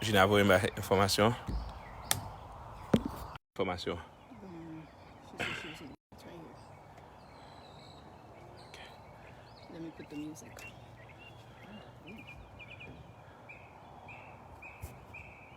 Jina voye m enfòmasyon. Enfòmasyon.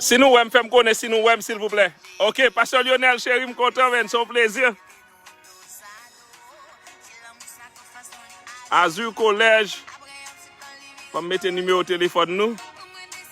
Si nou wèm fèm konnen si nou wèm silvouplè ok Pasteur Lionel chéri m kontan men son plezi. Azur collège Fòm mete nimewo telefòn nou.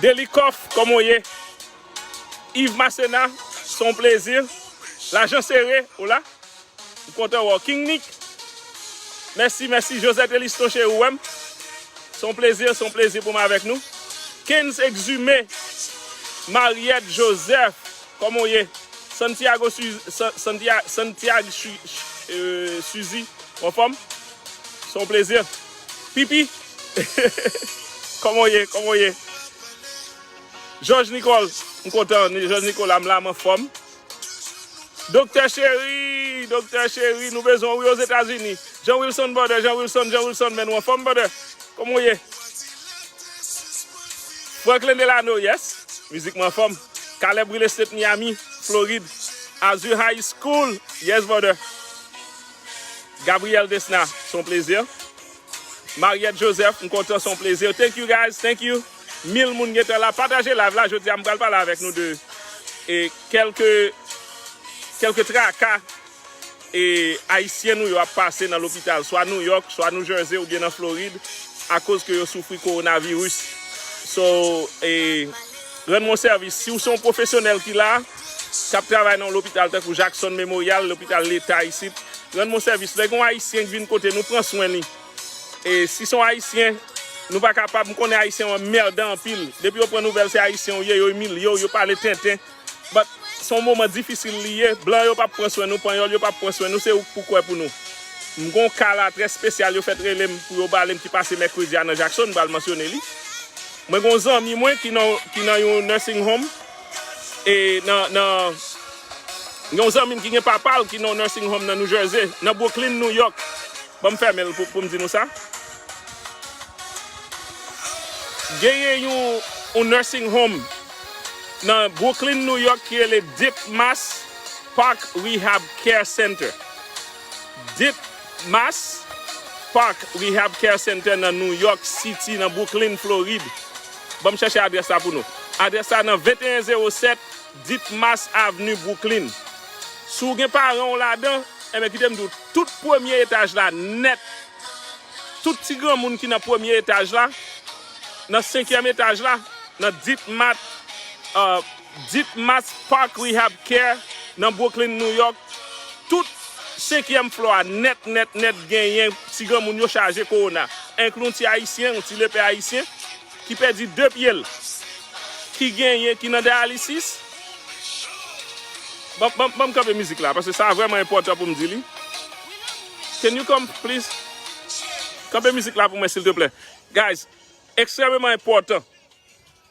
Delikoff kòman w ye? Yves Masséna se yon plezi. Lajan sere, hola. M kontan wè w. King Nick, mèsi, mèsi. Josette Eliston cheri w wè m. Se yon plezi, se yon plezi pou m avèk nou. Kens Exumé, Mariette Joseph, kòman w ye? Santiago Santiago Suzy, ou anfòm? Son plezi. Pipi. Koman ou ye? Koman ou ye? Joj Nikol. M kontan. Joj Nikola m la m anfom. Doktè cheri. Doktè cheri. Nou bezwen ou wi Ozetazini. Jean Wilson brother. Jean Wilson. Jean Wilson men nou anfom brother. Koman ou ye? Franklin Delano yes. Mizik m anfom. Caleb Real Estate Miami, Florid. Azur High School. Yes brother. Gabriel Desna se yon plezi. Mariette Joseph m kontan se yon plezi. Thank you guys, thank you. Mil moun gentan la. Pataje live la jodi a m pral pale avèk nou de e kèlke kèlke traka e ayisyen nou yo ap pase nan lopital swa New York, swa New Jersey oubyen nan Florid akoz ke yo soufri coronavirus. So e rann mwen sèvis. Si w se yon pwofesyonèl ki la. k ap travay nan yon lopital tankou Jackson Memorial, lopital leta isit, rann mwen sèvis. Lè gen yon Ayisyen k vin kote nou pran swen li. E si se yon Ayisyen, nou pa kapab, m konnen Ayisyen yo anmèdan anpil. Depi yo pran nouvèl se Ayisyen ou ye, yo imilye w, yo pale tenten. But, se yon moman difisil li ye. Blan yo p ap pran swen nou, Panyòl yo p ap pran swen nou, se ou k pou kwè pou nou. M gen yon ka la trè spesyal yo fèt rele m pou yo pale m ki pase mèkredi a nan Jackson, m pral mansyone li. Mwen gen yon zanmi mwen ki nan yon nursing home. e nan nan yon zanmi m ki gen papa l ki nan yon nursing home nan New Jersey, nan Brooklyn, New York. Ban m fèmen l pou m di nou sa. Genyen yon yon nursing home nan Brooklyn, New York ki rele Deep Mass Park Rehab Care Center. Deep Mass Park Rehab Care Center nan New York City, nan Brooklyn, Florid. Banm chèche adrès la pou nou. Adrès la nan 2107 Ditmas Avenue Brooklyn. Si w gen paran w ladan, enben kite m di w tout premye etaj la nèt, tout ti granmoun ki nan premye etaj la, nan senkyèm etaj la, nan Ditmat, Ditmas Park Rehab Care nan Brooklyn, New York, tout senkyèm flò a nèt nèt nèt genyen ti granmoun yo chaje kowona, enkli yon ti ayisyen, yon ti lepè ayisyen ki pèdi 2 pye l, ki genyen, ki nan dayalisis, ban, ban, ban m kanpe mizik la, paske sa vrèman enpòtan pou m di li, can you come please? Kanpe mizik la pou mwen silteplè, guys, ekstrèmeman enpòtan.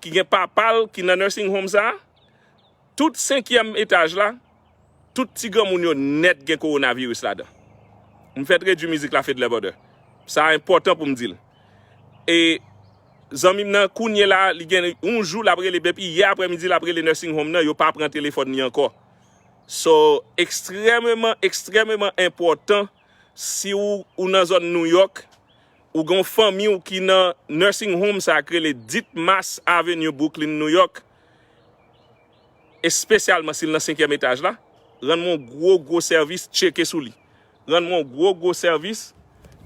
ki gen papa l ki nan nursing home sa, tout senkyèm etaj la, tout ti granmoun yo nèt gen kowonaviris ladan. M fèt redui mizik la Fedler Brother. Sa enpòtan pou m di l. E zanmi m nan kounyela a li gen yon jou l ap rele depi yè aprèmidi l ap rele nursing home nan yo pa pran telefòn li ankò. So ekstrèmeman ekstrèmeman enpòtan. Si ou ou nan zòn New York, ou gen yon fanmi ou ki nan nursing home sa ki rele Ditmas Avenue Brooklyn New York, espesyalman si l nan senkyèm etaj la, rann mwen yon gwo gwo sèvis tcheke sou li. Rann mwen yon gwo gwo sèvis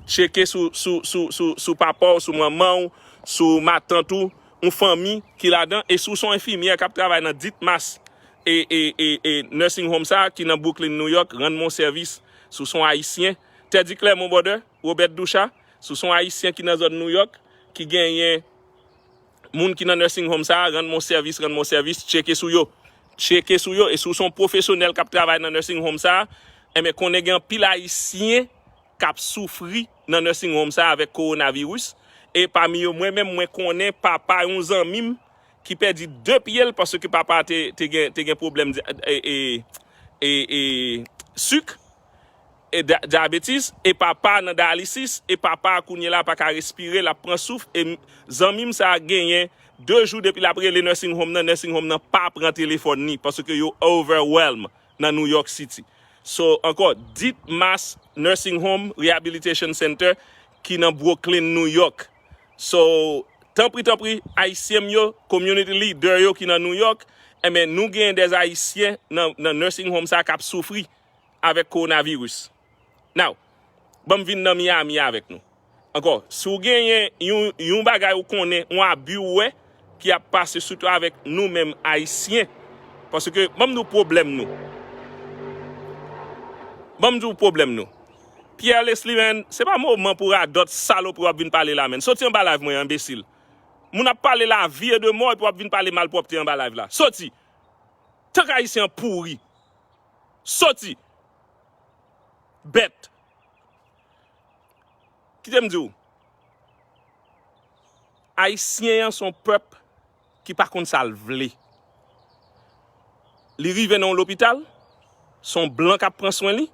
tcheke sou sou sou sou sou papa w, sou manman w, sou matant ou, yon fanmi ki ladan e si w se yon enfimyè k ap travay nan Ditmas e e e nursing home sa ki nan Brooklyn New York, rann mwen yon sèvis. sou son ayisyen, Teddy Clermont Border, Robert Duchat, sou son ayisyen ki nan zòn Nouyòk, ki genyen moun ki nan nursing home sa a, rann mwen sèvis, rann mwen sèvis, tcheke sou yo. Tcheke sou yo, e si w se yon pwofesyonèl k ap travay nan nursing home sa a, enben konnen gen anpil ayisyen k ap soufri nan nursing home sa a avèk kowonaviris, e pami yo mwen menm mwen konnen papa yon zanmi m, ki pèdi 2 pye l paske papa te gen pwoblèm suk, diabetes, e papa nan dialysis, e papa kounye la pa ka respire, l ap pran souf, e zanmi m sa genyen 2 jou depi l ap rele nursing home nan, nursing home nan pa pran telefòn ni, paske yo overwhelm nan New York City. So, ankò, Deep Mass Nursing Home Rehabilitation Center ki nan Brooklyn, New York, So, tanpri tanpri, Ayisyen m yo, community leader yo ki nan New York, enben nou gen des Ayisyen nan nan nursing home sa kap soufri avèk coronavirus. Now, banm vin nan Miami avèk nou. Ankò, si w genyen yon yon bagay ou konnen, yon abus ou wè, ki ap pase sitou avèk nou menm ayisyen paske banm di w pwoblèm nou banm di w pwoblèm nou Pierre Leslie menn se pa moman pou radòt salopri w ap vin pale la menn soti anba live mwen an enbesil moun ap pale lavi e de mò epi w ap vin pale malpwòpte anba live la soti tank ayisyen an pouri soti bèt kite m di w. Ayisyen an son pèp ki pa konn sal vle. Li rive nan yon lopital, son blan kap pran swen li,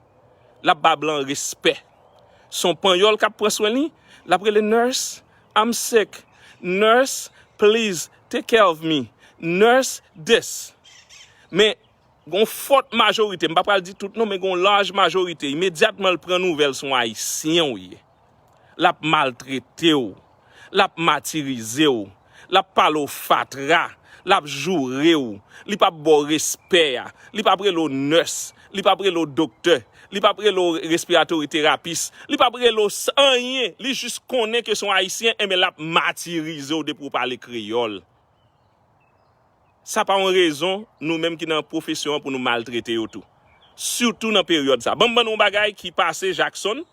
lap ba blan respè. Son panyòl kap pran swen li, lap rele nurse, I'm sick, nurse, please take care of me, nurse this. Men gon fòt majorite, m pa pral di tout non, men gon laj majorite, imedyatman l pran nouvèl son ayisyen ou ye. L ap maltrete w. L ap matirize w. L ap pale w fatra. L ap joure w. Li p ap ba w respè a. Li p ap rele w nès. Li p ap rele w doktè. Li p ap rele w respiratori terapis. Li p ap rele w anyen. Li jis konnen ke se yon Ayisyen, enben l ap matirize w depi w pale kreyòl. Sa pa yon rezon nou menm ki nan pwofesyon an pou nou maltrete yo tou. Sitou nan peryòd sa. Ban m ban nou yon bagay ki pase Jackson.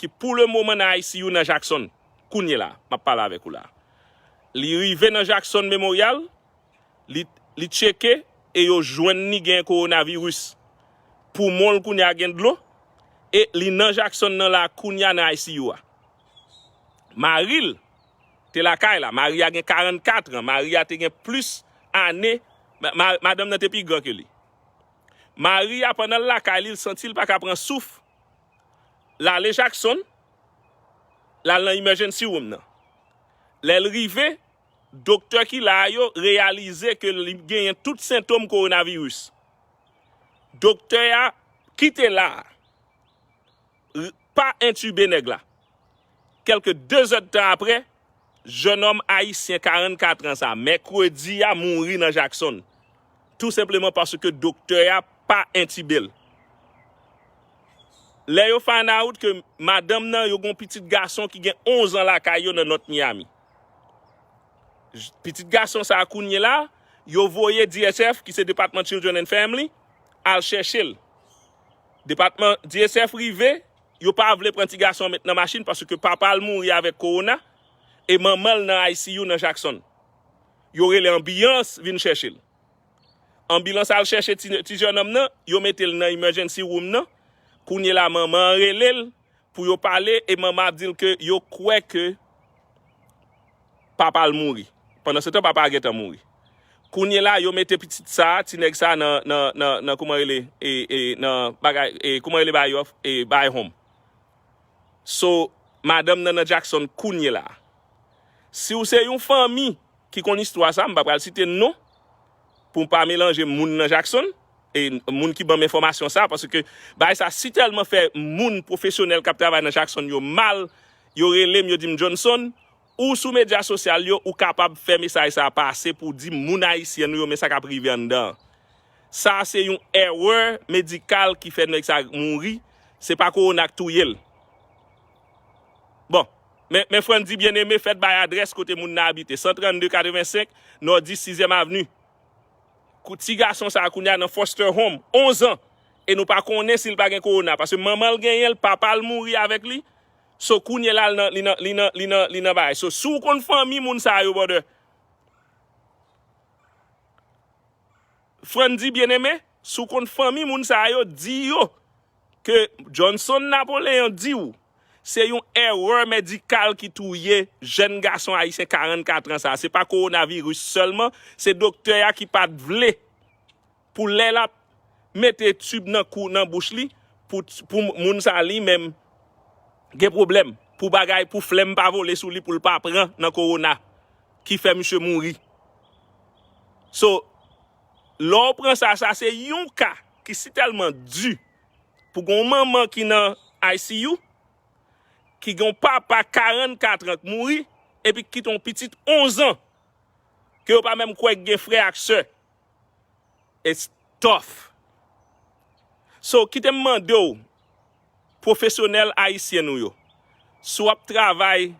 ki pou le moman nan ICU nan Jackson, kounye la, m ap pale avèk ou la a. Li rive nan Jackson Memorial, li li tcheke e yo jwenn li gen kowonaviris. Poumon l kounye a gen dlo e li nan Jackson nan la a kounye a nan ICU a. Mari l te lakay la, mari a gen 44 an, mari a te gen plis ane, ma madanm nan te pi gran ke li. Mari a pandan l lakay li, l santi l pa ka pran souf L ale Jackson, l al nan emergency room nan. Lè l rive, doktè ki la a yo reyalize ke li genyen tout sentom coronavirus. Doktè a kite la a, pa entube nèg la. Kèlke 2 zèdtan apre, Jenòm ayisyen 44 an sa a, mèkredi a mouri nan Jackson, tou senpleman paske doktè a pa entibe l. Lè yo find out ke madanm nan yo gen yon pitit gason ki gen 11 an lakay yo nan North Miami. Pitit gason sa a kounyela a, yo voye DSF ki se Department Children and Family al chèche l. Depatman DSF rive, Yo pa vle pran ti gason an met nan machin paske papa l mouri avèk kowona e manman l nan ICU nan Jackson. Yo rele anbiyans vin chèche l. Anbilans al chèche ti jenòm nan, yo mete l nan emergency room nan, kounye la manman an rele l pou yo pale e manman an ap di l ke yo kwè ke Papa l mouri. Pandansetan papa a gentan mouri. Kounyela yo mete pitit sa a, ti nèg sa a nan, nan, nan, nan kouman rele e, e, nan bagay e kouman rele bagay yo e bahay home. So, madanm nan nan Jackson kounyela a. Si w se yon fanmi ki konn istwa sa a, m pa pral site non, pou pa melanje moun nan Jackson e moun ki banm enfòmasyon sa paske bagay sa si tèlman fè moun pwofesyonèl kap travay nan Jackson yo mal yo relem yo dim Johnson ou sou medya sosyal yo ou kapab fè mesaj sa pase pou di moun ayisyen nou yo men sa kap rive anndan an sa se yon erè medikal ki fè nèg sa mouri se pa kowona k touyel. Bon, men, men Frandy Bien-Aimé fèt bay adrès kote moun nan abite, 132 85 Nòdis Sizyèm Avni. Kou ti gason sa a kounye a nan foster home, 11 an, e nou pa konnen si l pa gen kowona, paske manman l genyen l, papa l mouri avèk li, so kounye la li nan, li nan, li nan, li nan, li nan bagay. So, si w konn fanmi moun sa yo, brother, Frandy Bien-Aimé, si w konn fanmi moun sa yo, di yo. ke Johnson Napoleon di w se yon erè medikal ki touye jèn gason ayisyen 44 an sa. Se pa kowonaviris sèlman, se doktè a ki pa t vle pou lè l ap mete tib nan kou nan bouch li pou moun sa li menm gen pwoblèm pou bagay pou flèm pa vole sou li pou l pa pran nan kowona ki fè misye mouri. So. Lè w pran sa, sa se yon ka ki si tèlman di pou gen yon manman ki nan ICU, ki gen yon papa 44 an k mouri epi ki kite yon pitit 11 an ke yo pa menm kwè ki gen frè ak sè. It's tough. So, kite m mande w. Pwofesyonèl Ayisyen nou yo, si w ap travay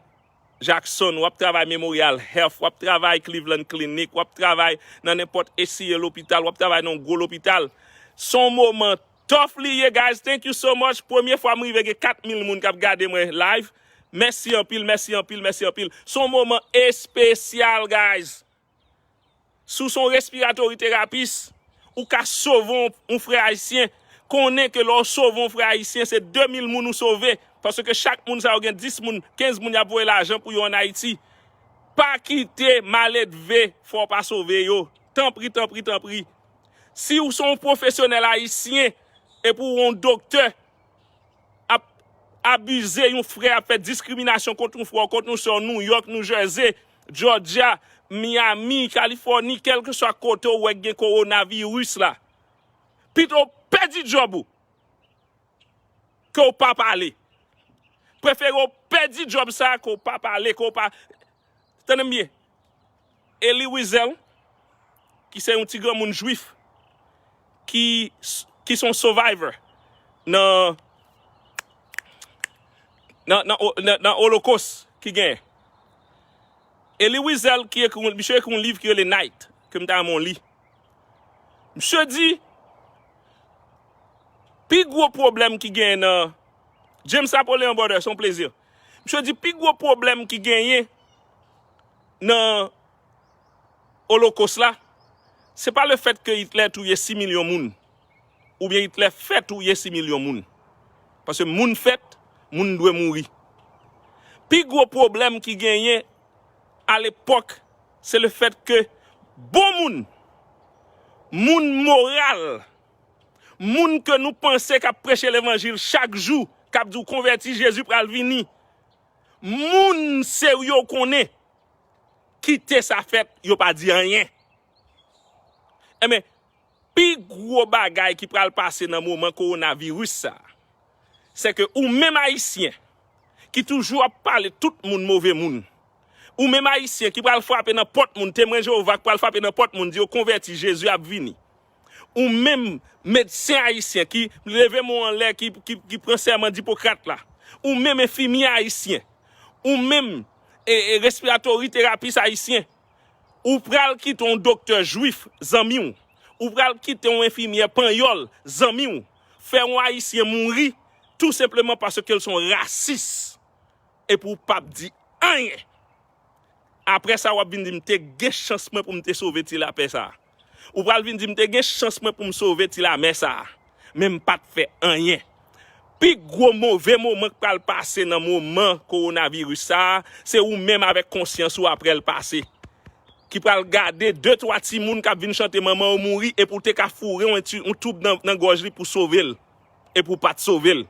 Jackson, w ap travay Memorial Health, w ap travay Cleveland Clinic, w ap travay nan nenpòt HCA lopital, w ap travay nan yon gwo lopital, se yon moman tough li ye guys, thank you so much, premye fwa m rive gen 4000 moun k ap gade mwen live, mèsi anpil, mèsi anpil, mèsi anpil, se yon moman espesyal guys. Si w se yon respiratory terapis, ou ka sove yon frè ayisyen. Konnen ke lè w sove yon frè ayisyen, se 2000 moun ou sove. Paske chak moun sa yo gen 10 moun, 15 moun y ap voye lajan pou yo an Ayiti. Pa kite maledve fè w pa sove yo. Tanpri, tanpri, tanpri. Si w se yon pwofesyonèl ayisyen, epi w yon doktè, ap abize yon frè, ap fè diskriminasyon kont yon frè w, kont yon sè w, New York, New Jersey, Georgia, Miami, Californie, kèlkeswa kote w wè k gen coronavirus la. Pito w pèdi djòb ou, ke w pa pale. Prefere w pèdi djòb sa a ke w pa pale, ke w pa, tande m byen. Elie Wiesel, ki se yon ti granmoun jwif ki ki se yon survivor nan nan olokos ki genyen. Elie Wiesel ki ekri, misye ekri yon liv ki rele Night ke m ta renmen w li. Misye di pi gwo pwoblèm ki genyen nan James Napoleon Brother se yon plezi. Misye di pi gwo pwoblèm ki genyen nan Olokos la, se pa lefèt ke Hitler touye 6 milyon moun, oubyen Hitler fè touye 6 milyon moun. Paske moun fèt, moun dwe mouri. Pi gwo pwoblèm ki genyen alepòk, se lefèt ke bon moun, moun moral, Moun ke nou panse kap preche levanjil chak jou, kap di w konvèti Jezi pral vini. Moun serye w konnen kite sa fèt yo pa di anyen. Enben, pi gwo bagay ki pral pase nan moman kowona viris sa, se ke ou menm ayisyen ki toujou ap pale tout moun move moun, ou menm ayisyen ki pral frape nan pòt moun, temwen Jewova ki pral frape nan pòt moun di yo konvèti Jezi ap vini. Ou menm medsen ayisyen ki, leve men w anlè, ki pran sèman d'Hippocrate la, ou menm enfimyè ayisyen, ou menm respiratory therapist ayisyen, ou pral kite yon doktè jwif zanmi w, ou pral kite yon enfimyè panyòl zanmi w, fè yon ayisyen mouri tou senpleman paske l se yon rasis epi w pa p di anyen. Aprè sa w ap vin di m te gen chans mwen pou m te sove ti lapè sa a. Ou pral vin di m te gen chans mwen pou m sove ti lamè sa a, men m pa t fè anyen. Pi gwo move moman k pral pase nan moman kowonaviris sa a, se ou menm avèk konsyans ou aprè l pase, ki pral gade de twa timoun k ap vin chante manman w mouri epi w te ka foure yon toub nan gòj li pou w sove l, epi w pa t sove l.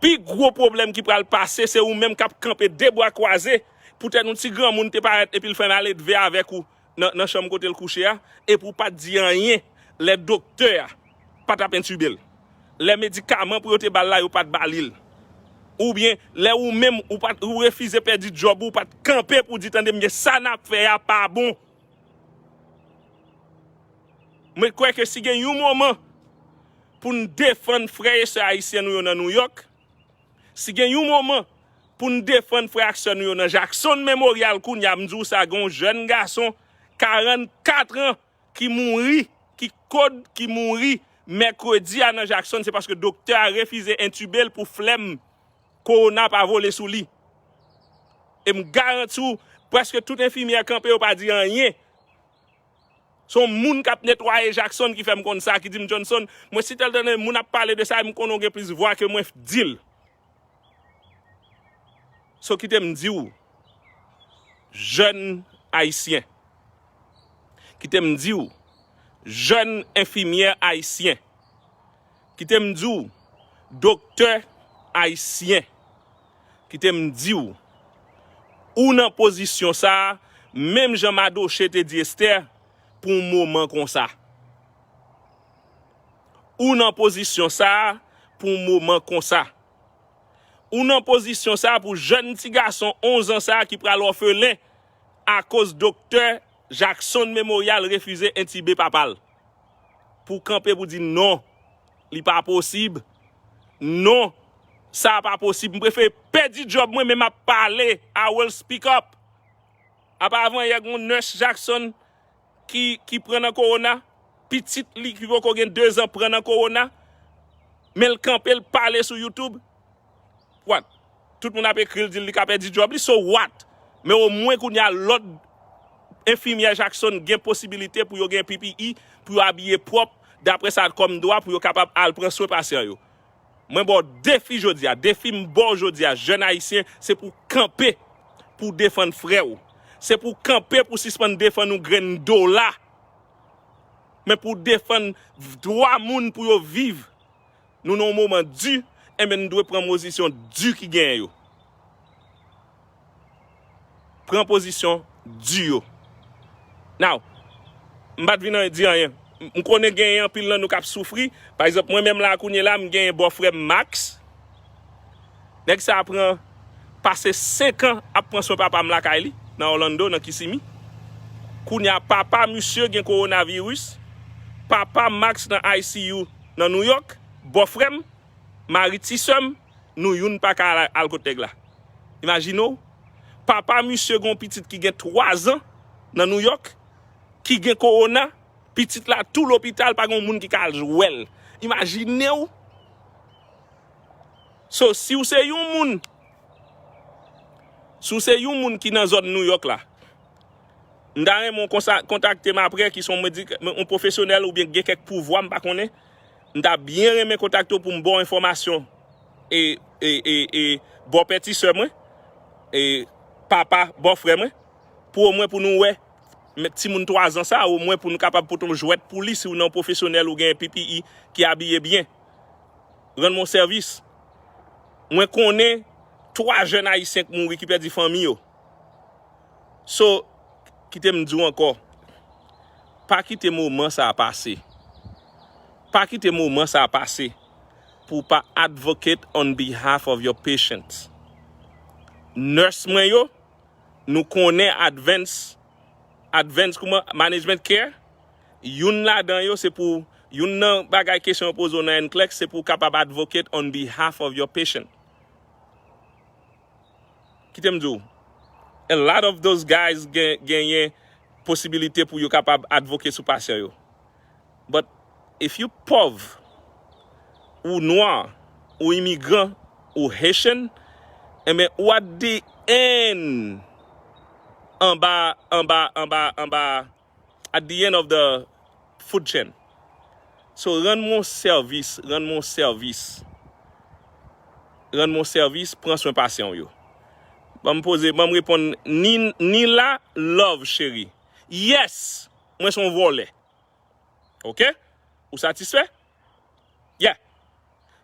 Pi gwo pwoblèm ki pral pase se ou menm k ap kanpe de bra kwaze poutèt yon ti granmoun te parèt epi l fè maledve avèk ou nan chanm kote l kouche a e pou w pa t di anyen lè doktè a pa t ap entibel l, lè medikaman pou yo te ba l la yo pa t ba li l, oubyen lè ou menm ou pa t ou refize pèdi djòb ou, ou pa t kanpe pou w di tande m byen sa n ap fè a pa bon. Mwen kwè ke si gen yon moman pou n defann frè e sè ayisyen nou yo nan Nouyòk, Si gen yon moman pou n defann frè ak sè nou yo nan Jackson Memorial kounye a, m di w sa gen yon jèn gason 44 an ki mouri, ki kod ki mouri mèkredi a nan Jackson se paske doktè a refize entube l pou flèm kowona pa vole sou li. E m garanti w prèske tout enfimyè kanpe yo pa di anyen. Se yon moun k ap netwaye Jackson ki fè m konn sa, ki di m Johnson, mwen si tèl tande moun ap pale de sa e m konnen w gen plis vwa ke mwen f di l. So kite m di w, jèn Ayisyen, kite m di w, jèn enfimyè Ayisyen, kite m di w, doktè Ayisyen, Kite m di w, ou nan pozisyon sa a, menm jan Madoche te di Estè, pou yon moman konsa. Ou nan pozisyon sa a pou yon moman konsa. Ou nan pozisyon sa a pou jèn ti gason onzan sa a ki pral òfelen akoz doktè Jackson Memorial refize entibe papa l. Pou w kanpe pou w di non. Li pa posib non sa a pa posib m prefere pèdi job mwen men map pale I will speak up apa avan yè gon nurse Jackson ki pran nan corona pitit li ki poko gen 2 ans pran nan corona men l kanpe l pale sou YouTube. What? Tout moun ap ekril dil li ka pèdi job li so what? Men o mwen kounya lòt enfimyè Jackson gen posibilite pou yo gen PPE pou yo abiye pwòp daprè sa kòm dwa pou yo kapab al pran swen pasyan yo. Mwen baw defi jodia, defi m baw jodia jèn ayisyen se pou kanpe pou defann frè w. Se pou kanpe pou sispann defann yon grenn dola men pou defann dwa moun pou yo viv. Nou nan yon moman di, enben nou dwe pran mozisyon di ki genyen yo. Pran pozisyon di yo. Now, m pa t vin an di anyen. M konnen genyen anpil nan nou k ap soufri. Pa egzanp, mwen menm la a kounye la, m genyen bòfrè m Max. Nèg sa a pran pase 5 an ap pran swen papa m lakay li, nan Orlando, nan Kissimmee. Kounye a papa misye gen kowonaviris, papa Max nan ICU nan New York, bòfrè m, mari ti sè m, nou youn pa ka al kot nèg la. Imajine w, papa misye gen yon pitit ki gen 3 zan nan New York, ki gen kowona, pitit la tou lopital pa gen yon moun ki ka al wè l. Imajine w! So si w se yon moun, si w se yon moun ki nan zòn New York la, m ta renmen w kontakte m aprè ki son yon pwofesyonèl oubyen ki gen kèk pouvwa m pa konnen, m ta byen renmen kontakte w pou m ba w enfòmasyon e ba w pèti sè mwen e papa bò frè mwen pou omwen pou nou wè timoun 3 zan sa omwen pou nou kapab pote yon jwèt pou li si w nan yon pwofesyonèl ou gen PPE ki abiye byen. Rann mwen yon sèvis. Mwen konnen 3 jèn ayisyen k mouri ki pèdi fanmi yo. So, kite m di w ankò, pa kite moman sa a pase. Pa kite moman sa a pase pou w pa advocate on behalf of your patients. Nurse mwen yo, nou konnen advance, advance kouman, management care? Youn ladan yo se pou, youn nan bagay kesyon yo poze w nan NCLEX se pou w kapab advocate on behalf of your patient. Kite m di w, a lot of those guys genyen posibilite pou yo kapab advocate sou pasyan yo. But if you pòv, ou nwa, ou imigran, ou Haitian, enben ou at the end anba, anba, anba, anba at the end of the food chain so rann mwen yon sèvis rann mwen yon sèvis rann mwen yon sèvis pran swen pasyan w yo banm poze banm reponn Nila love cheri yes mwen son vòlè ok ou satisfè yeah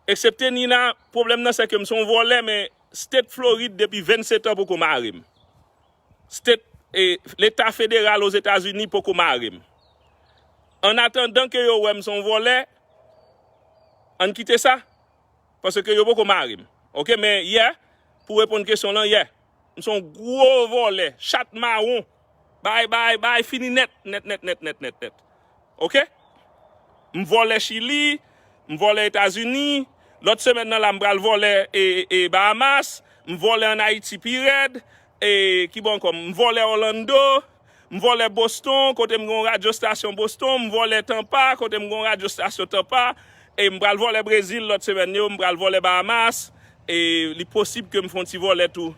eksepte Nina pwoblèm nan sèke m son vòlè men state Floride depi 27 an poko mare m. State eh leta federal Ozetazini poko mare m. An atandan ke yo wè m son vòlè, ann kite sa, paske yo poko mare m. Ok men yeah, pou reponn kesyon w lan, yeah, m son gwo vòlè, chat mawon, bay bay bay fini nèt, nèt nèt nèt nèt nèt nèt. Ok m vòlè chili m vòlè etazini lòt semèn nan la m pral vòlè e bahamas m vòlè an ayiti pi rèd e kibò ankò m vòlè orlando m vòlè boston kote m gen yon radyo stasyon boston m vòlè tampa kote m gen yon radyo stasyon tampa e m pral vòlè brezil lòt semèn yo m pral vòlè bahamas E li posib ke m fon ti vole tou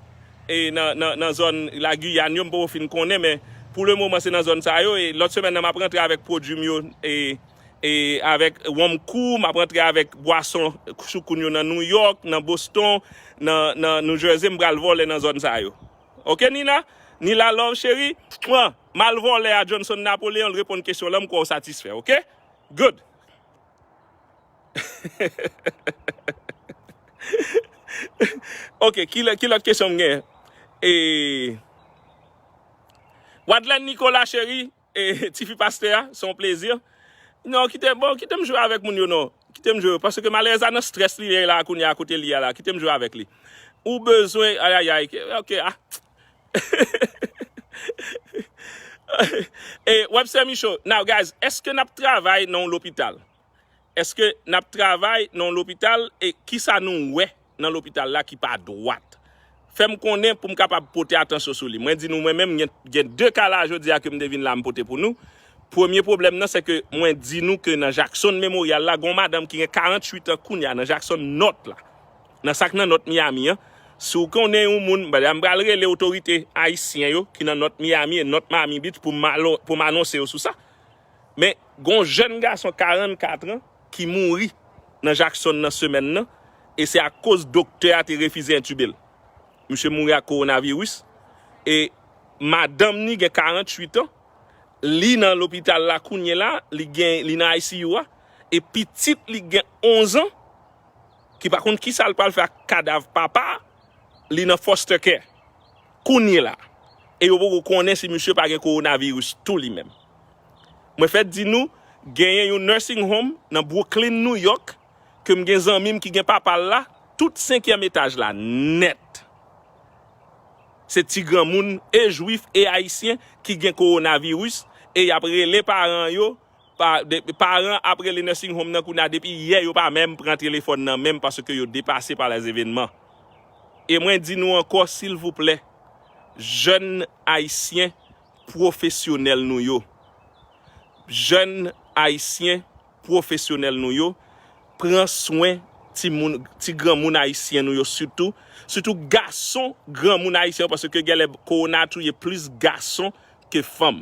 e nan zòn la Guyane yo m poko fin konnen men pou le moman se nan zòn sa yo e lòt semèn nan map rantre avèk pwodwi m yo e avèk wonm kou map rantre avèk bwason choukoun yo nan New York nan Boston nan New Jersey m pral vole nan zòn sa yo ok Nina Nila love cheri mwa m al vole a Johnson Napoleon l reponn kesyon lan m kwè w satisfè ok good. Ok, ki lè, ki lòt kesyon m gen? E, Wadlèn Nikola cheri, e, tifi pastè a, se yon plezi. Non, kite, bon, kite m jwe avèk moun yo non. Kite m jwe, paske malerèz la nan strès li ye la kounye a, kote li ye la, kite m jwe avèk li. Ou bezwen, ayayay, ok, a, E webster micho now guys eske nap travay nan yon lopital eske nap travay nan yon lopital e kisa nou wè nan lopital la ki pa dwat fèm konnen poum kapab pote atansyon sou li mwen di nou mwen menm gen 2 ka la jodia kem te vin la m pote pou nou premye pwoblèm nan se ke mwen di nou ke nan jaksonn memoryal la gon madanm ki gen 48 an kounya nan jaksonn nort la Nan sak nan North Miami an, si w konnen yon moun, m pral rele otorite ayisyen yo ki nan North Miami e North Miami Beach pou m pou m anonse yo sou sa. Men, gon jèn gason 44 an ki mouri nan Jackson nan semèn nan e se akoz doktè a te refize entube l. Misye mouri ak coronavirus e madanm ni gen 48 an, li nan lopital la kounyela, li gen li nan ICU a e pitit li gen 11 an ki pa konn kisa l pral fè ak kadav papa li nan foster care kounyela e yo poko konnen si misye pa gen coronavirus tou li menm. Mwen fèt di nou genyen yon nursing home nan Brooklyn New York ke m gen zanmi m ki gen papa l la tout senkyèm etaj la nèt se ti granmoun e jwif e ayisyen ki gen coronavirus e yap rele paran yo Paran ap rele nursing home nan kounya depi yè yo pa menm pran telefòn nan menm paske yo depase pa les evenman. E mwen di nou ankò silvouplè jèn ayisyen pwofesyonèl nou yo, jèn ayisyen pwofesyonèl nou yo pran swen timoun, ti granmoun ayisyen nou yo sitou, sitou gason granmoun ayisyen yo paske genlè kowona touye plis gason ke fanm.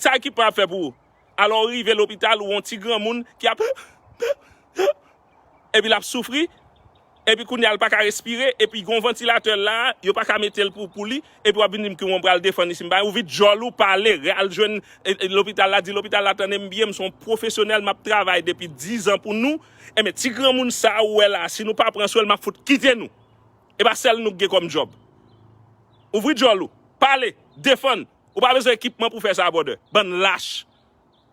Sa ekip mwen ap fè pou ou? Alò ou rive lopital ou wè yon ti granmoun ki ap epi l ap soufri, epi kounye a l pa ka respire, epi gen yon vantilatè la, yo pa ka mete l pou li, epi w ap vin di m ki w pral defann isit m pa gen, ou vide djòl ou pale, al jwenn lopital la, di lopital la tande m byen m se yon pwofesyonèl m ap travay depi dizan pou nou, enben ti granmoun sa ou wè la si nou pa pran swen l m ap fout kite nou. E pa sèl nou k gen kòm djòb. Ouvri djòl ou. Pale. Defann. Ou pa bezwen ekipman pou fè sa brother. Bann lach.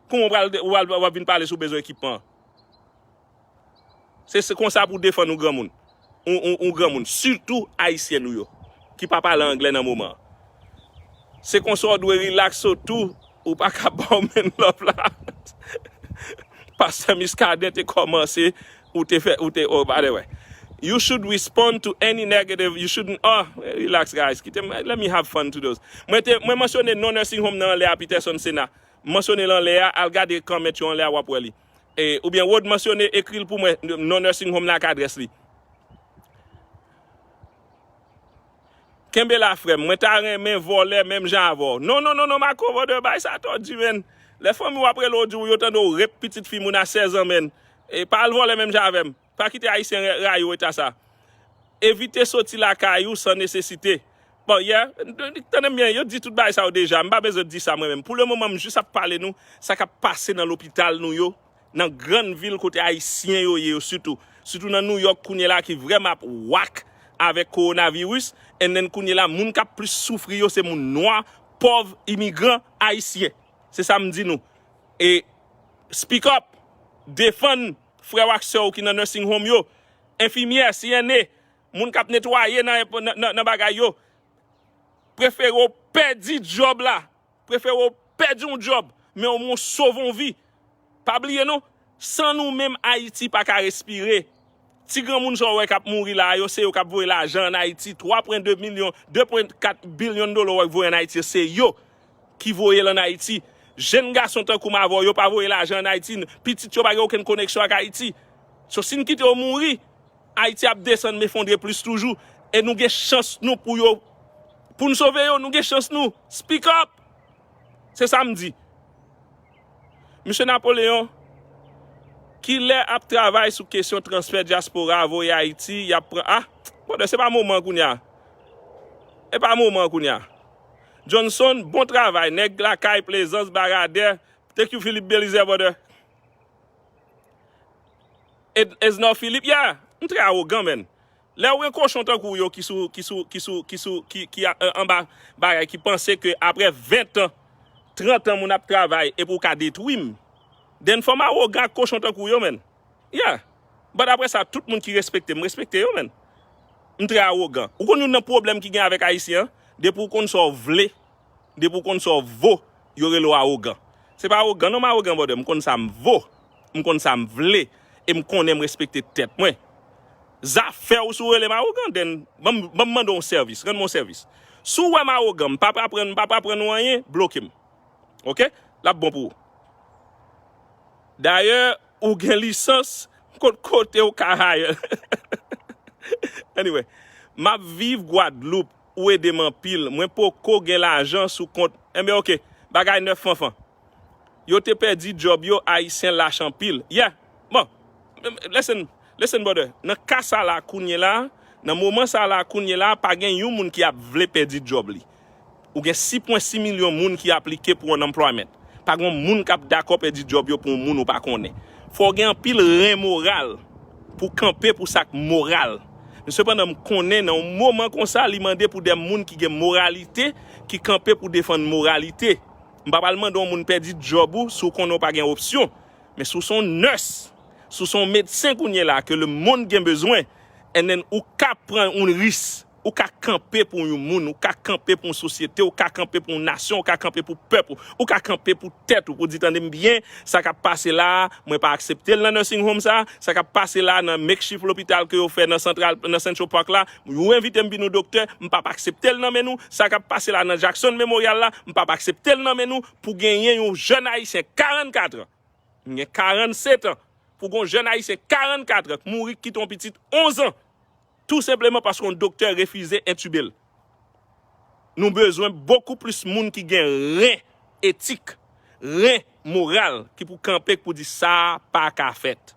Kouman ou pral ou pral wap vin pale si ou bezwen ekipman. Se se konsa pou defann yon granmoun. Yon granmoun. Sitou ayisyen nou yo. Ki pa pale anglè nan moman. Se konsa ou dwe relax ou tou. Ou pa ka baw menn love la. Pastè Muscadin te komanse ou te fè ou te oh by the way you should respond to any negative you shouldn't oh relax guys kite m let me have fun to those mwen te mwen mansyone non nursing home nan anlè a Peterson Sena m mansyone l anlè a al gade comment yo anlè a wap wè li e oubyen Rod mansyone ekri l pou mwen non nursing home nan ak adrès li Kenbe la frèm mwen ta renmen vòlè menm jan avèw non non non non Marco vòdè bay sa tò di menn lè fanmiw ap relew diw yo tande w rep pitit fi moun a 16 ans menn e pa al vòlè menm jan avèm pa kite ayisyen rayiw eta sa evite soti lakay ou san nesesite bon yè tandem byen yo t di tout bagay sa yo deja m pa bezwen t di sa mwen menm pou le moman m jis ap pale nou sa kap pase nan lopital nou yo Nan grann vil kote Ayisyen yo ye yo sitou. Sitou nan New York kounye la ki vrèman ap wak avèk kowonaviris. And then kounye la moun k ap plis soufri yo se moun nwa, pòv, imigran, Ayisyen. Se sa m di nou. E speak up! Defann frè w ak sè w ki nan nursing home yo, enfimyè, CNA, moun k ap netwaye nan bagay yo. Prefere w pèdi djòb la Prefere w pèdi yon djòb, men omwen w sove yon vi. Pa bliye non, san nou menm Ayiti pa ka respire. Ti granmoun sa w wè k ap mouri la a yo, se yo k ap voye lajan ann Ayiti, 3 pwen 2 milyon, 2 pwen 4 bilyon dola w wè k voye ann Ayiti yo, se yo ki voye l ann Ayiti. Jenn gason tankou m avè w yo pa voye lajan ann Ayiti, pitit yo pa gen okenn koneksyon ak Ayiti. So si n kite yo mouri. Ayiti ap desann mefondre plis toujou e nou gen chans nou pou yo pou n sove yo nou gen chans nou speak up se sa m di Misye Napoleon kilè ap travay sou kesyon transfè dyaspora a voye Ayiti y ap pran a brother se pa moman kounye a e pa moman kounye a Johnson bon travay nèg lakay plezans baradè thank you Philippe Belizè brother. Esnor Philippe yeah! M trè awogan menn. Lèw gen kochon tankou w yo ki sou ki sou ki sou ki sou ki ki anba bagay ki panse ke aprè 20 tan 30 tan moun ap travay epi w ka detwi m then fò m awogan ak kochon tankou w yo menn yeah! But aprè sa tout moun ki respekte m m respekte yo menn. M trè awogan. Ou konn youn nan pwoblèm ki gen avèk ayisyen an depi w konn sa w vle Depi ou konn sa w vo, yo rele w awogan. Se pa awogan non m awogan brother, m konn sa m vo, m konn sa m vle e m konnen m respekte tèt mwen. Zafè w si w rele m awogan then ban m mande w yon sèvis, rann mwen yon sèvis. Si w wè m awogan, m pa pral pran, m pa pral pran nou anyen, bloke m. Ok? L ap bon pou ou. Dayè, ou gen lisans, m konn kote ou ka hire. Anyway, m ap viv Guadeloupe. ou edem anpil mwen poko gen lajan sou kont enben ok bagay nèf fanfan yo te pèdi job yo ayisyen lach anpil yeah bon listen listen brother nan ka sa la kounye la nan moman sa la kounye la pa gen yon moun ki ap vle pèdi job li ou gen 6 pwen 6 milyon moun ki aplike pou unemployment pa gon moun kap dakò pèdi job yo pou yon moun ou pa konnen fòw gen anpil ren moral pou kanpe pou sak moral. Men sepandan m konnen nan yon moman konsa li mande pou de moun ki gen moralite ki kanpe pou defann moralite. M pa pral mande yon moun pèdi djòb ou si w konnen w pa gen opsyon. Men si w se yon nès, si w se yon medsen kounye la ke lemonn gen bezwen, enen ou ka pran yon ris, ou ka kanpe pou yon moun, ou ka kanpe pou yon sosyete, ou ka kanpe pou yon nasyon, ou ka kanpe pou pèp ou, ou ka kanpe pou tèt ou pou di tande m byen, Sa kap pase la a, mwen pa aksepte l nan nursing home sa, sa kap pase la a nan makeshift lopital ke yo fè nan central nan central park la, ou envite m vin ou doktè, m pap aksepte l nan men nou, sa kap pase la a nan Jackson Memorial la, m pap aksepte l nan men nou, pou genyen yon jèn ayisyen 44 an, m gen 47 an, pou gon jèn ayisyen 44 an k mouri k kite yon pitit 11 an. Tou senpleman paske yon doktè refize entube l. Nou bezwen bokou plis moun ki gen ren etik, ren moral ki pou kanpe k pou di sa pa ka fèt.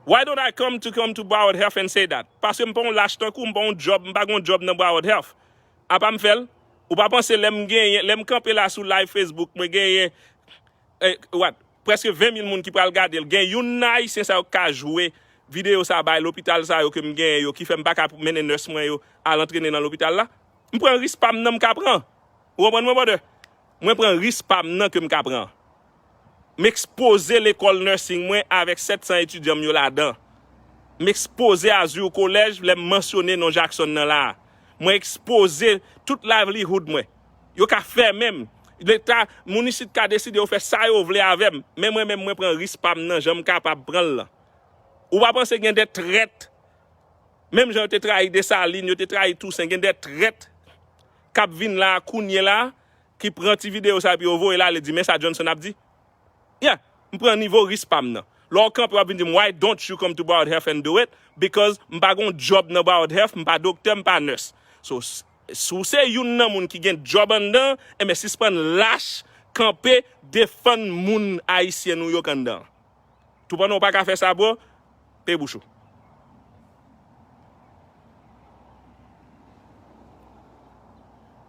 Why don't I come to come to Broward Health and say that? Paske m pa yon lach tankou w, m pa yon djòb, m pa gen yon djòb nan Broward Health. Apa m fè l? Ou pa panse lè m genyen, lè m kanpe la sou live Facebook mwen genyen eh what preske 20 mil moun ki pral gadel gen youn nan ayisyen sa yo ki ka jwe video sa bay lopital sa yo kem genyen yo ki fèm paka mennen nurse mwen yo al antrene nan lopital la m pran risk pam nan m ka pran ou konprann mwen brother mwen pran risk pam nan kem ka pran m ekspoze lekòl nursing mwen avèk 700 etidyan m yo ladan m ekspoze azur college lèm mansyone non Jackson nan la mwen ekspoze tout livelihood mwen. Yo ka fèmen m. Leta, moun isit ka deside yo fè sa yo vle avè m. Men mwen menm mwen pran ris pa m nan jan m kapab pran l lan. Ou pa panse gen de trèt, menm jan yo te trayi Desalin, yo te trayi Tousen, gen de trèt k ap vin la a kounyela a ki pran ti videyo sa epi yo voye l ale di men sa Johnson ap di? Ya! M pran nivo ris pa m nan. Lè w kanpe w ap vin di m why don't you come to Bard Health and do it? Because m pa gen yon djòb nan Bard Health, m pa doktè, m pa nurse. So, Si w se youn nan moun ki gen djòb anndan, enben sispann lach kanpe defann moun ayisyen nou yo k anndan an. Toupandan w pa ka fè sa bro, peye bouch ou.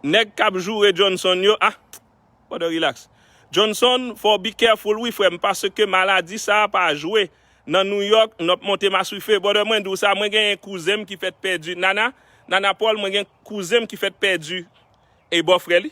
Nèg k ap joure Johnson yo, ah! Brother relax. Johnson fòw be careful wi frèm paske maladi sa pa jwe nan New York nop monte maswife brother mwen diw sa mwen genyen kouzenm ki fèt pèdi Nana Nana Paul mwen gen kouzenm ki fèt pèdi e bòfrè li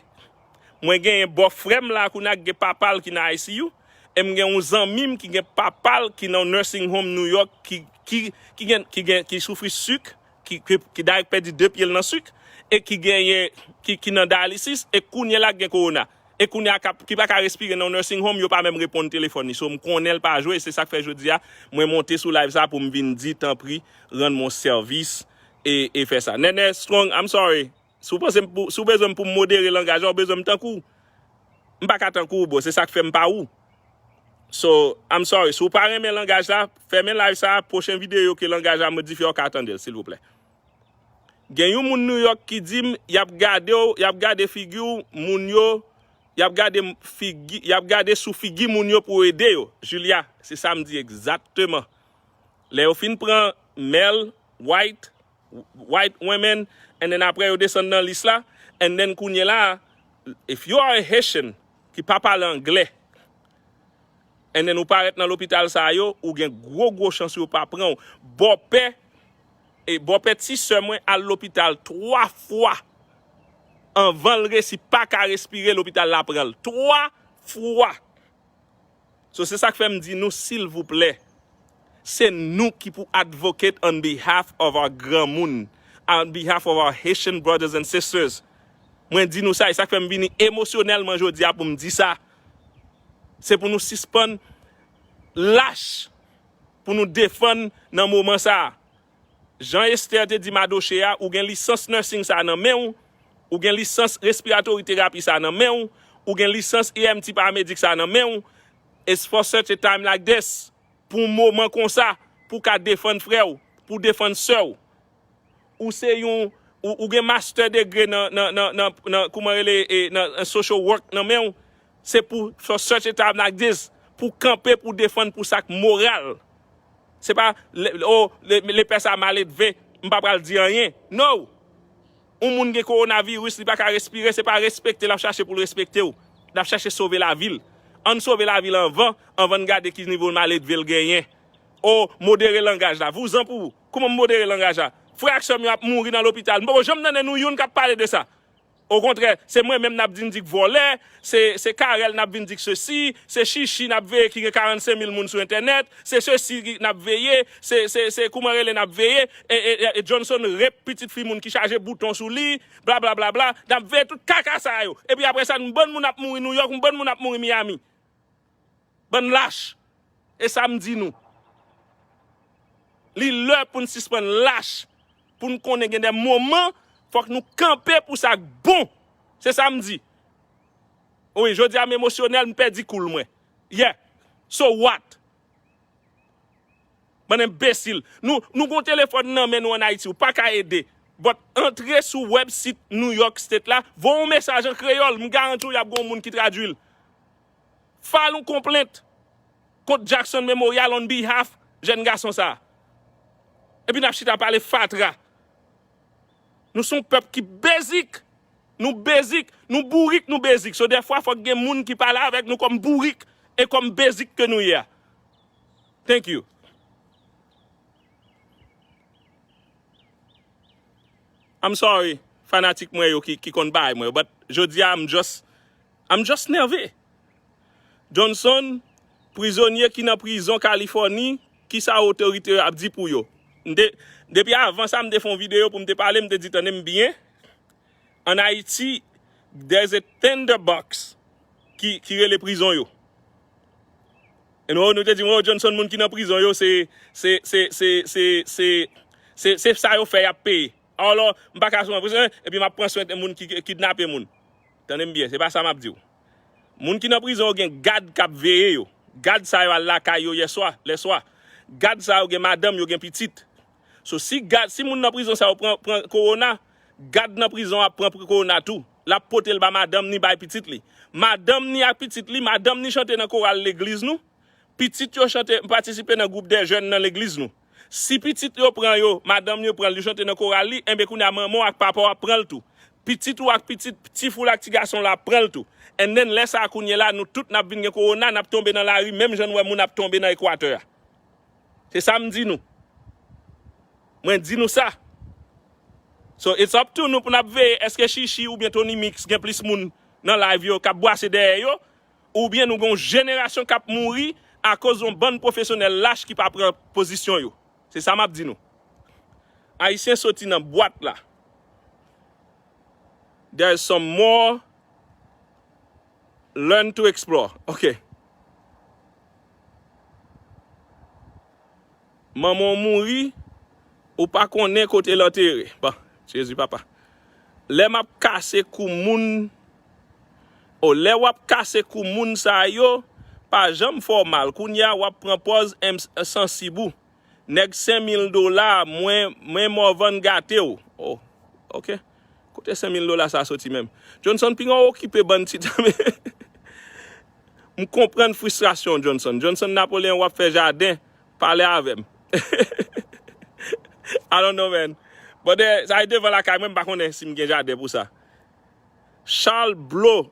mwen genyen bòfrèm la kounya ki gen papal ki nan ICU em gen yon zanmim ki gen papal ki nan nursing home New York ki ki ki gen ki soufri suk ki dayèk pèdi 2 pyel nan suk e ki genyen ki nan dialysis e kounyela ki gen korona e kounya ki paka respire nan yon nursing home yo pa menm reponn telefòn li so m konnenl pa jwe se sak fè jodia mwen monte sou live sa poum vin di tanpri rann mwen sèvis e fè sa Nènè strong I'm sorry Si w panse m pou, si w bezwen m pou m modere langaj la, w bezwen m tankou w. M pa ka tankou w bro, se sa k fè m pa ou. So, I'm sorry. Si w pa renmen langaj la, fèmen live sa a, pwochen videyo ke langaj la modifye a w ka tande l, silvouplè. Gen yon moun New York ki di m, y ap gade w, y ap gade figi w, moun yo, y ap gade figi, y ap gade sou figi moun yo pou yo ede yo. Julia, se sa m di egzakteman. Lè yo fin pran Mel, White. white women and then aprè yo desann nan lis la and then kounye la if you are a Haitian ki pa pale anglè and then ou parèt nan lopital sa yo ou gen gwo gwo chans yo pa pranw bòpè e bòpè ti sè mwen al lopital 3 fwa anvanl resi paka respire lopital la pranl 3 fwa So se sak fèm di nou silvouplè se nou ki pou advocate on behalf of our granmoun, on behalf of our Haitian brothers and sisters. Mwen di nou sa e sak fèm vini emosyonèlman jodi a poum di sa. Se pou nou sispann lach pou nou defann nan moman sa. Jan Esther te di Madoche a, ou gen lisans nursing sa nan menw, ou gen lisans respiratory therapy sa nan menw, ou gen lisans EMT paramedic sa nan menw, it's for such a time like this, pou yon moman konsa, pou ka defann frèw, pou defann sèw. Ou se yon, ou gen master degree nan, nan, nan, nan, nan, kouman rele, e, nan, nan social work nan menw, se pou for such a time like this, pou kanpe pou defann pou sak moral. Se pa oh lepè sa maledve m pa pral di anyen. No! Yon moun gen kowonaviris li pa ka respire se pa respekte l ap chache pou l respekte w. L ap chache sove lavi l. Ann sove lavi l anvan, anvan n gade ki nivo maledve l genyen. Oh modere langaj la. Vouzan pou ou. Kouman m modere langaj la? Frè ak sè m yo ap mouri nan lopital. M poko janm tande nou youn k ap pale de sa. Okontrè, se mwen menm n ap vin di k vòlè, se Carel n ap vin di k sesi, se Shishi n ap veye ki gen 45 mil moun sou entènèt, se sesi n ap veye, se kouman rele n ap veye, e Johnson rape pitit fi moun ki chaje bouton sou li, blablablabla, n ap veye tout kaka sa yo. Epi apresa n bann moun ap mouri Nouyòk, m bann moun ap mouri Miami. Bann lach! E sa m di nou, li lè pou n sispann lach, pou n konnen gen de moman fòk nou kanpe pou sa k bon. Se sa m di. Wi, jodi a m emosyonèl, m pèdi koul mwen. Yeah! So what? Bann enbesil. Nou, nou gon telefòn nan men nou an Ayiti, ou pa ka ede. But antre sou wèb sit New York State la, voye yon mesaj an kreyòl, m garanti w y ap gon moun ki tradui l. File yon konplent kont Jackson Memorial on behalf jèn gason sa. Epi nap chita pale fatra. Nou son pèp ki basic. Nou basic. Nou bourik nou basic. So dèfwa fòk gen moun ki pale avèk nou kòm bourik e kòm basic ke nou ye a. Thank you. I'm sorry fanatik mwen yo ki konn bay mwen yo but jodi a m just I'm just nève! Johnson, prizonye ki nan prizon Kalifòni, kisa otorite yo ap di pou yo? M te, depi avan sa m te fè yon videyo pou m te pale, m te di tande m byen, an Ayiti, there's a tinder box ki rele prizon yo. And oh, nou te di m, oh Johnson moun ki nan prizon yo se, se, se, se, se, se, se, se sa yo fè y ap peye. Alò, m pa ka sou yon prizon, epi m ap pran swen moun ki kidnape moun. Tande m byen, se pa sa m ap di w. Moun ki nan prizon yo gen gad k ap veye yo. Gad sa yo al lakay yo yèswa, lèswa. Gad sa yo gen madanm, yo gen pitit. So si gad, si moun nan prizon sa yo pran, pran kowona, gad nan prizon an ap pran kowona tou. L ap pote l ba madanm ni bay pitit li. Madanm ni ak pitit li, madanm ni chante nan koral legliz nou, pitit yo chante, patisipe nan gwoup dè jèn nan legliz nou. Si pitit yo pran yo, madanm yo pran l, li chante nan koral li, enben kounye a manman w ak papa w ap pran l tou. Pitit ou ak pitit ti fi w la ak ti gason w la ap pran l tou. And then lè sa a kounye la, nou tout n ap vin gen kowona, n ap tonbe nan lari menm jan n wè moun ap tonbe nan Ekwatè a. Se sa m di nou. Mwen di nou sa. So it's up to nou pou n ap veye èske Shishi oubyen Tony Mix gen plis moun nan live yo k ap bwase dèyè yo oubyen nou gen yon jenerasyon k ap mouri akoz yon bann pwofesyonèl lach ki pa pran pozisyon yo. Se sa m ap di nou. Ayisyen soti nan bwat la. There's some more learn to explore. Ok. Manman w mouri ou pa konnen kote l antere bon jezi papa lè map kase kou moun oh lè wap kase kou moun sa yo pa janm fè w mal kounya wap pran pòz m sansib ou nèg 5000 dola mwen Morvan gate w oh ok. Kote 5 mil dola sa soti menm. Johnson pinga okipe bann ti tame. M konprann fristrasyon w Johnson. Johnson Napoleon wap fè jaden pale avèm. I don't know man. Bon de sa e devan lakay mwen m pa konnen si m gen jaden pou sa. Charles Bleau.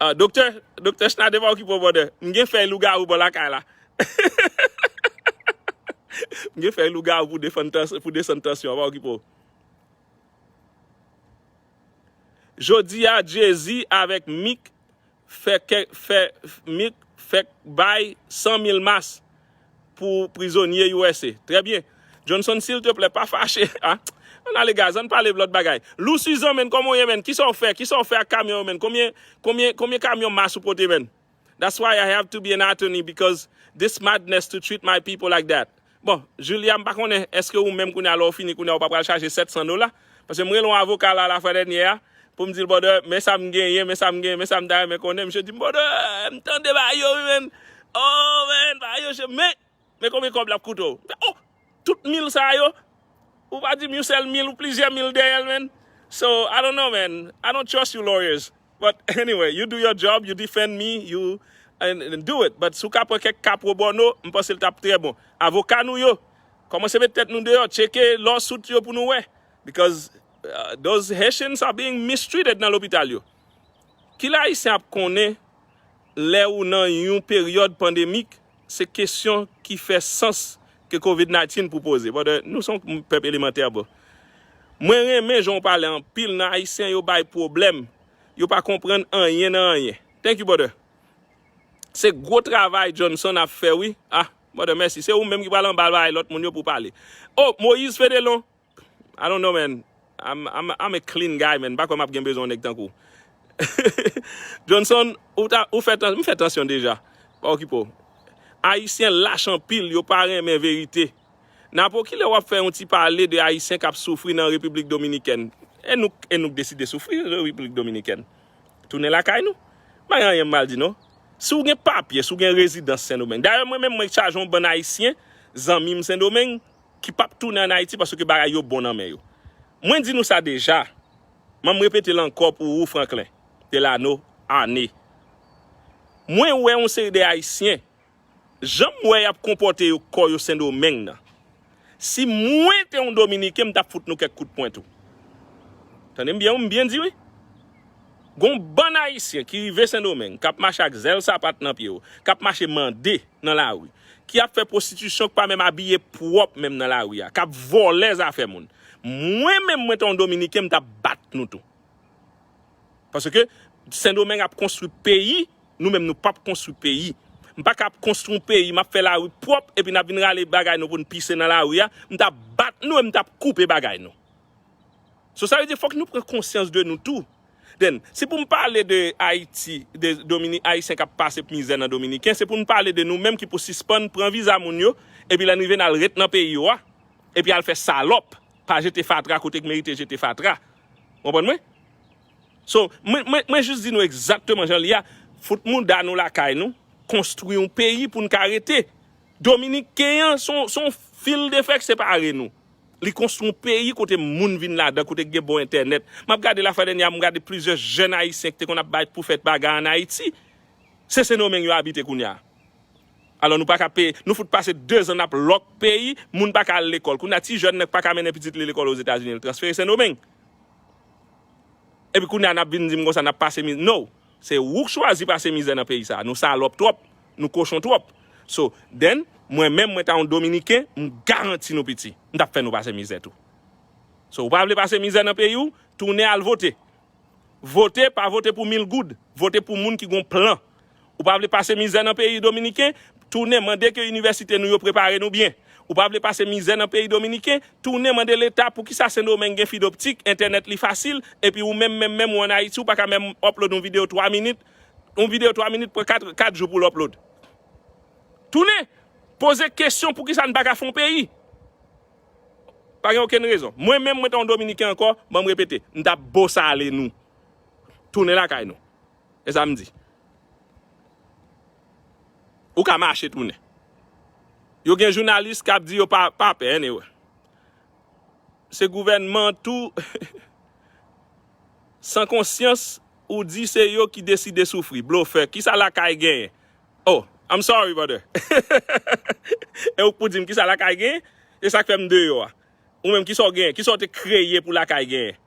Ah, doktè, doktè Schnade pa okipe w brother. M gen fèy lougarou bò lakay la. M gen fèy lougarou pou defann tans, pou desann tansyon, pa okipe w. Jodi a Jay-Z avèk Meek fè kè fè Meek fèk bay 100 mil mas. Pou prizonye usa. Trè byen. Johnson silteplè pa fache ah. Ann ale guys ann pale lòt bagay. Lou Suzan menn kòman w ye menn kisaw fè kisaw fè ak kamyon yo menn konbyen konbyen konbyen kamyon mas ou pote menn that's why I have to be an attorney because this madness to treat my people like that bon Julia m pa konnen eske ou menm kounye a lè w fini kounye a ou pa pral chaje 700 dola Paske m rele yon avoka la lafwa dènyè a pou m di l bwòdè men sa m genyen, men sa m genyen, men sa m ta renmen konnen. Misye di m bwòdè m tande bagay yo wi menn. Oh menn bagay yo che men men konbyen kòb l ap koute w. M fè oh tout mil sa yo ou pa di m yon sèl mil ou plizyè mil dèyè l menn. So I don't know menn I don't trust you lawyers but anyway you do your job you defend me you do it but si w ka pran kèk ka pro bono m panse l t ap trè bon. Avoka nou yo Komanse met tet nou deyo cheke law suit yo pou nou we because those Haitians are being mistreated nan lopital yo. Ki lè Ayisyen ap konnen lè ou nan yon peryod pandemic se kesyon ki fè sans ke covid 19 pou poze brother nou son pèp elemantè bro. Mwen renmen jan ou pale anpil nan Ayisyen yo bay pwoblèm yo pa konprann anyen nan anyen. Thank you brother. Se gwo travay Johnson ap fè wi ahh. Mother mèsi se ou menm ki pral anba bay lòt moun yo pou pale oh Moïse Fédélon I don't know man I'm I'm a clean guy man m pa kwè map gen bezwen yon nèg tankou w Johnson ou ta ou fè m fè tansyon deja pa okipe w Ayisyen lach anpil yo pa renmen verite Napo kilè wap fè yon ti pale de Ayisyen kap soufri nan République Dominicaine e nou e nou k deside soufri nan République Dominicaine. Tounen lakay nou. M pa gen anyen mal di non. Si w gen papye, si w gen rezidans Sendomeng. Dayè mwen menm mwen chaje yon bann Ayisyen, zanmi m Sendomeng, ki p ap tounen an Ayiti paske bagay yo bon nan men yo. Mwen di nou sa deja, men m repete l ankò pou ou Franklin Delano, Arne. Mwen wè yon seri de Ayisyen Janm wè yap konpòte yo kò yo sendomeng nan si mwen te yon dominiken m tap fout nou kèk kout pwen tou tande m byen wi m byen di wi gon bann ayisyen ki rive sendomeng kap mache ak zèl sapat nan pye yo kap mache mande nan lari ki ap fè pwostitisyon ki pa menm abiye pwòp menm nan lari a kap vòlè zafè moun mwen menm mwen te yon dominiken m tap bat nou tou. Paske sendomeng ap konstri peyi nou menm nou pap konstri peyi m paka ap konstri yon peyi map fè lari pwòp epi nap vin rale bagay nou poun pise nan lari a m tap bat nou e m tap koupe bagay nou so sa vle di fòk nou pran konsyans de nou tou then si poum pale de ayiti de domini ayisyen kap pase mizè nan dominiken se poun pale de nou menm ki pou sispann pran viza moun yo epi lè nou rive nal ret nan peyi yo a epi al fè salòp pa jete fatra kote k merite jete fatra Ou konprann mwen? So, mwen, mwen, mwen jis di nou egzakteman jan li ye a, fout mouda nou lakay nou, konstwi yon peyi pou n ka rete. Dominiken an se yon, se yon fil de fè k separe nou. Li konstwi yon peyi kote moun vin ladan, kote gen bon entènèt. M ap gade la fwa dènyè a, m gade plizyè jèn ayisyen ki te konn ap bay pou fèt bagay an Ayiti. Se Sendomeng yo abite kounye a. Alò nou paka peye, nou fout pase 2 zan nap lòk peyi, moun paka al lekòl. Kounye a ti jèn nan k paka mennen pitit li lekòl Ozetazini, l transfere Sendomeng. Epi kounye a nap vin di m konsa nap pase mizè. No! Se ou k chwazi pase mizè nan peyi sa a. Nou salòp twòp, nou kochon twòp. So, then, mwen menm mwen ta yon dominiken, m garanti nou piti, m tap fè nou pase mizè tou. So ou pa vle pase mizè nan peyi w, tounen al vote. Vote, pa vote pou mil goud. Vote pou moun ki gon plan. Ou pa vle pase mizè nan peyi dominiken, tounen mande ke inivèsite nou yo prepare nou byen. Ou pa vle pase mizè nan peyi dominiken, tounen mande leta poukisa sendomeng gen fidoptik, entènèt li fasil, epi ou menm menm menm ou an ayiti ou paka menm upload yon video 3 minit, yon video 3 minit pran 4 4 jou poul upload. Tounen! Poze kesyon poukisa n paka fon peyi. Pa gen okenn rezon. Mwen menm mwen ta yon dominiken ankò, banm repete, m tap bosale nou. Tounen lakay nou. E sa m di. Ou ka mache tounen. Yo gen jounalis kap di yo pa pa pè anyway. Se gouvènman tou san konsyans ou di se yo ki deside soufri. Blofè. Kisa lakay genyen? Oh, I'm sorry brother. e ou k pou dim kisa lakay gen? E sak fè m deyò a? Ou menm kisa w gen? Kisa w te kreye pou lakay gen?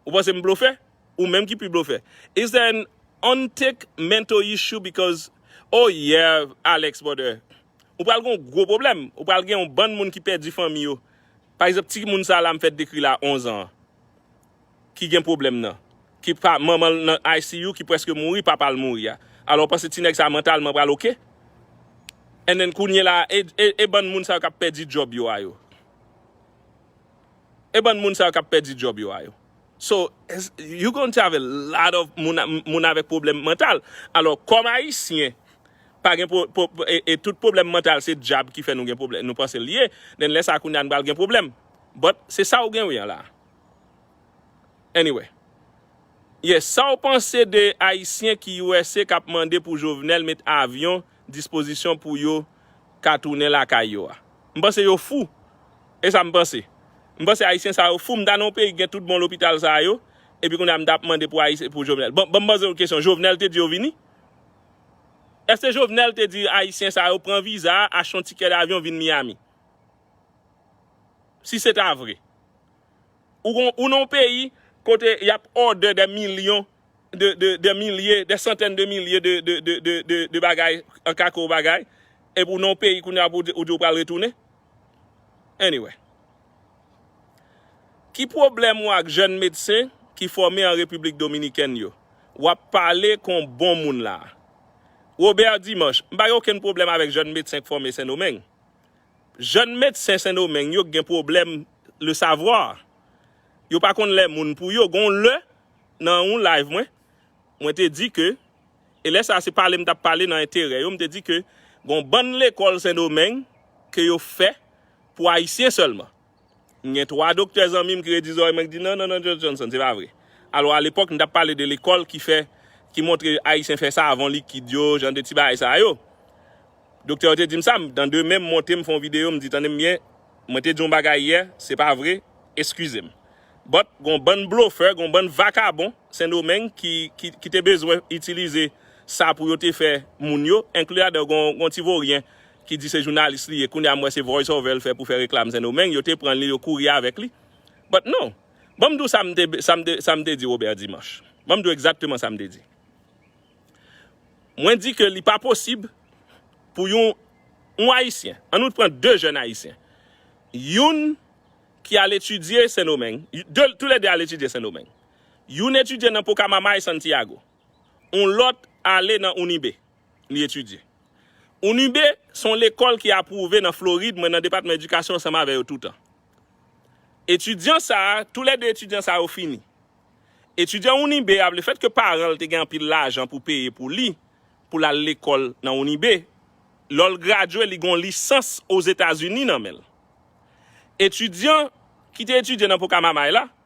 Ou panse m blofè? Ou menm ki pi blofè. Is there an untick mental issue because oh yeah Alex brother. Ou pral gon gwo problem. Ou pral gen yon bann moun ki pèdi fanmi yo. Pa egzanp ti moun sa la m fèt dekri la 11 an. ki gen pwoblèm nan, ki pa manman l nan ICU ki preske mouri papa l mouri a alò ou panse ti nèg sa mantalman pral ok and then kounyela e bann moun sa yo kap pèdi djòb yo a yo e bann moun sa yo kap pèdi djòb yo a yo so you going to have a lot of moun avèk pwoblèm mantal alò kòm ayisyen pa gen e tout pwoblèm mantal se djab ki fè nou gen pwoblèm nou panse l ye then lè sa kounya nou pral gen pwoblèm but se sa ou gen wi an la. Anyway. Yes, sa w panse de Ayisyen ki usa kap mande pou Jovenel met avyon dispozisyon pou yo ka tounen lakay yo a? M panse yo fou. E sa m panse. M panse Ayisyen sa yo fou. M ta nan yon peyi ki gen tout bon lopital sa yo, epi kounye a m ta ap mande pou Ayisyen, pou Jovenel. Bon, banm poze w kesyon, Jovenel te di yo vini? Eske Jovenel te di Ayisyen sa yo pran viza, achte yon tikè davyon vin Miami? Si se ta vre. Ou gon, ou nan yon peyi kote y ap òdè dè milyon de, de, dè milye, dè santèn de milye de, de, de, de, de, de bagay an ka ke w bagay, epi w nan yon peyi kounye a pou w di, ou di w pral retounen? Anyway. Ki pwoblèm ou ak jèn medsen ki fòme an Repiblik Dominikèn yo? W ap pale kon bon moun la a. Robert Dimanche, M pa gen okenn pwoblèm avèk jèn medsen k fòme Sendomeng. Jèn medsen Sendomeng yo k gen pwoblèm le savoir. Yo pa konn lè moun pou yo. Gon lè nan yon live mwen, mwen te di ke, e lè sa se pale m tap pale nan enterè yo, m te di ke gon bann lekòl Sendomeng ke yo fè pou ayisyen sèlman. M gen 3 doktè zanmi m ki redi zòrèy mwen ki di nan nan nan Johnson se pa vre. Alò a lepòk m t ap pale de lekòl ki fè, ki montre Ayisyen fè savon likid yo, jan de ti bagay sa yo. Doktè yo te di m sa, m dan demen m monte m fè yon videyo m di tande m byen, mwen te di yon bagay yè, se pa vre, eskize m. But gen yon bann blofè, gen yon bann vakabon Sendomeng ki ki te bezwen itilize sa pou yo te fè moun yo, enkli ladan yo gen yon ti voryen ki di se jounalis li ye kounye a m wè se voice over l fè pou fè reklam sendomeng yo te pran li yo kouri avèk li but non ban m di w sa m te sa m te sa m te di Robert Dimanche ban m di w egzakteman sa m te di mwen di ke li pa posib pou yon yon ayisyen an nou t pran 2 jèn ayisyen youn ki al etidye sendomeng de tou lè 2 al etidye sendomeng youn etidye nan pokamama e santiago yon lòt ale nan unibe li etidye. UNIB se yon lekòl ki apwouve nan Florid, mwen nan depatman edikasyon ansanm avè yo toutan. Etidyan sa, tou lè 2 etidyan sa yo fini. Etidyan UNIB a, le fèt ke paran l te gen anpil lajan pou peye pou li, pou l al lekòl nan UNIB, lò l gradye li gen yon lisans Ozetazini nan men l. Etidyan ki te etidye nan Pocamamay la,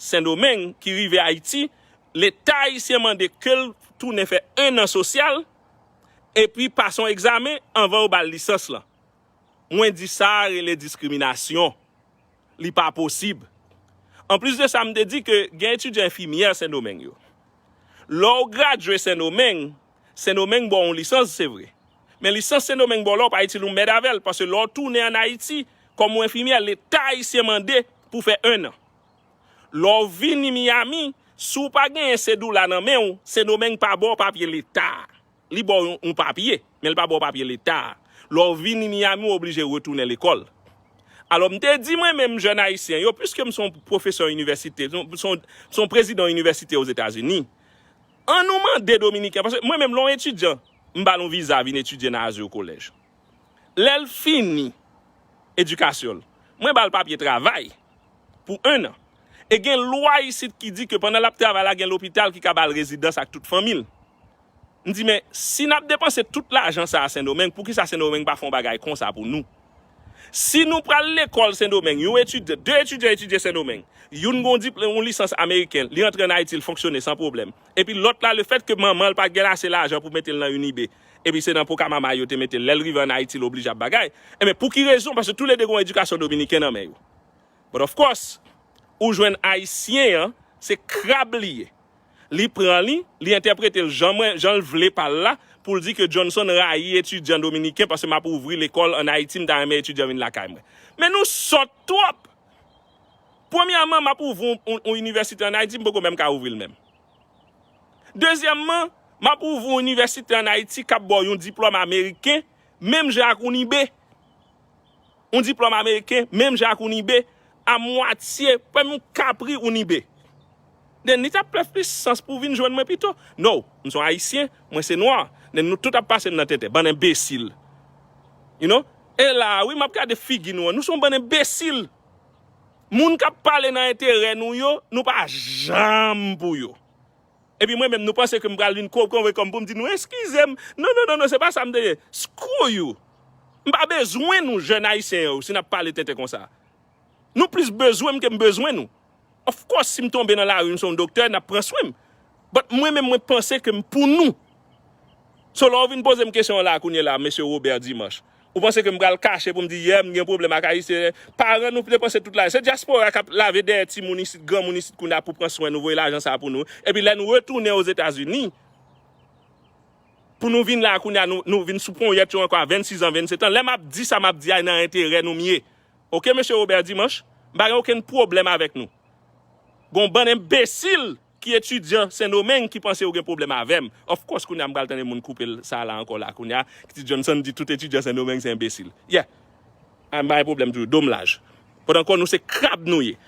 Sendomeng ki rive Ayiti, Leta ayisyen mande ke l tounen fè 1 an sosyal epi pase yon egzamen anvan yo ba l lisans lan. Mwen di sa a rele diskriminasyon. Li pa posib. Anplis de sa, m te di ke gen etidyan enfimyè Sendomeng yo. Lè w gradye Sendomeng, Sendomeng ba w yon lisans, se vre. Men lisans Sendomeng ba w la, w pa itil, ou mèd avè l, paske lè w tounen ann Ayiti kòm yon enfimyè, Leta ayisyen mande pou w fè 1 an. Lè w vini Miami, si w pa genyen sedoula nan men w, Sendomeng pa ba w papye leta a. Li ba w yon papye, men li pa ba w papye leta a. Lè w vini Miami, w oblije retounen lekòl. Alò, m te di mwen menm jèn Ayisyen yo, piske m se yon pwofesè inivèsite, m se yon prezidan inivèsite Ozetazini, annou mande Dominiken, paske mwen menm lè yon etidyan, m ba l yon viza vin etidye nan Azur College. lè l fini edikasyon l, mwen ba l papye travay pou enn an. E gen lwa isit ki di ke pandan l ap travay la gen lopital ki ka ba l rezidans ak tout fanmi l. M di men, si n ap depanse tout lajan sa a Sendomeng, poukisa Sendomeng pa fè yon bagay konsa pou nou? Si nou pral lekòl Sendomeng, yon etidyan, de etidyan etidye Sendomeng, youn gen yon diplome, yon lisans ameriken, li antre ann Ayiti, li fonksyone san pwoblèm. Epi lòt la, lefètke manman l pa t gen ase lajan pou mete l nan Unibe, epi se nan Pocamama yo te mete l, lè l rive an Ayiti l oblije ap bagay, enben pou ki rezon, paske tou le 2 gen yon edikasyon dominiken nan men yo. But of course, ou jwenn Ayisyen an, se krab li ye. Li pran li, li entèprete l jan mwen, jan l vle pa l la, pou l di ke Johnson rayi etidyan dominiken paske m ap ouvri lekòl an Ayiti, m ta renmen etidyan vin lakay mwen. Men nou sòt twòp! Premyèman, m ap ouvri yon inivèsite an Ayiti, m poko menm ka ouvri l menm. Dezyèmman, m ap ouvri yon inivèsite an Ayiti k ap ba w yon diplòm ameriken menm jan ak yon IB. Yon diplòm ameriken menm jan ak yon IB a mwatye, menm yon ka pri yon IB. Nen li t ap fè plis sans pou w vin jwenn mwen pito. No, m se yon Ayisyen, mwen se nwa. Nen nou tout ap pase m nan tenten. Bann enbesil. You know? E la a wi m ap gade figi nou an. Nou se yon bann enbesil! Moun kap pale nan enterè nou yo, nou pa janm pou yo. Epi mwen menm nou panse ke m pral vin kwo konve kòm pou m di nou eskize m. Non non non non se pa sa m te ye. Screw you. M pa bezwen nou jèn ayisyen yo si nap pale tenten konsa. Nou plis bezwen m ke m bezwen nou. Of course si m tonbe nan lari m se yon doktè nap pran swen m. But mwen menm mwen panse ke m pou nou. So lè w vin poze m kesyon an la kounye la Mesye Robert Dimanche. Ou panse ke m pral kache pou m di yè m gen pwoblèm ak Ayisyen? Paran nou depanse tout lajan. Se dyaspora k ap lave dèyè timoun isit, granmoun isit kounye a pou pran swen nou, voye lajan sa a pou nou. Epi lè nou retounen Ozetazini, pou nou vin la a kounye a nou vin sou ponyèt yo ankò a 26 an, 27 an. Lè m ap di sa m ap di a e nan enterè nou m ye. Ok Mesye Robert Dimanche, m pa gen okenn pwoblèm avèk nou. Gen yon bann enbesil! Ki etidyan sendomeng ki panse yo gen pwoblèm avèm of course kounya m pral tande moun koupel sa la ankò la kounya kti Johnson di tout etidyan sendomeng se enbesil yeah a m pa gen pwoblèm toujou dom laj pot ankò nou se krab nou ye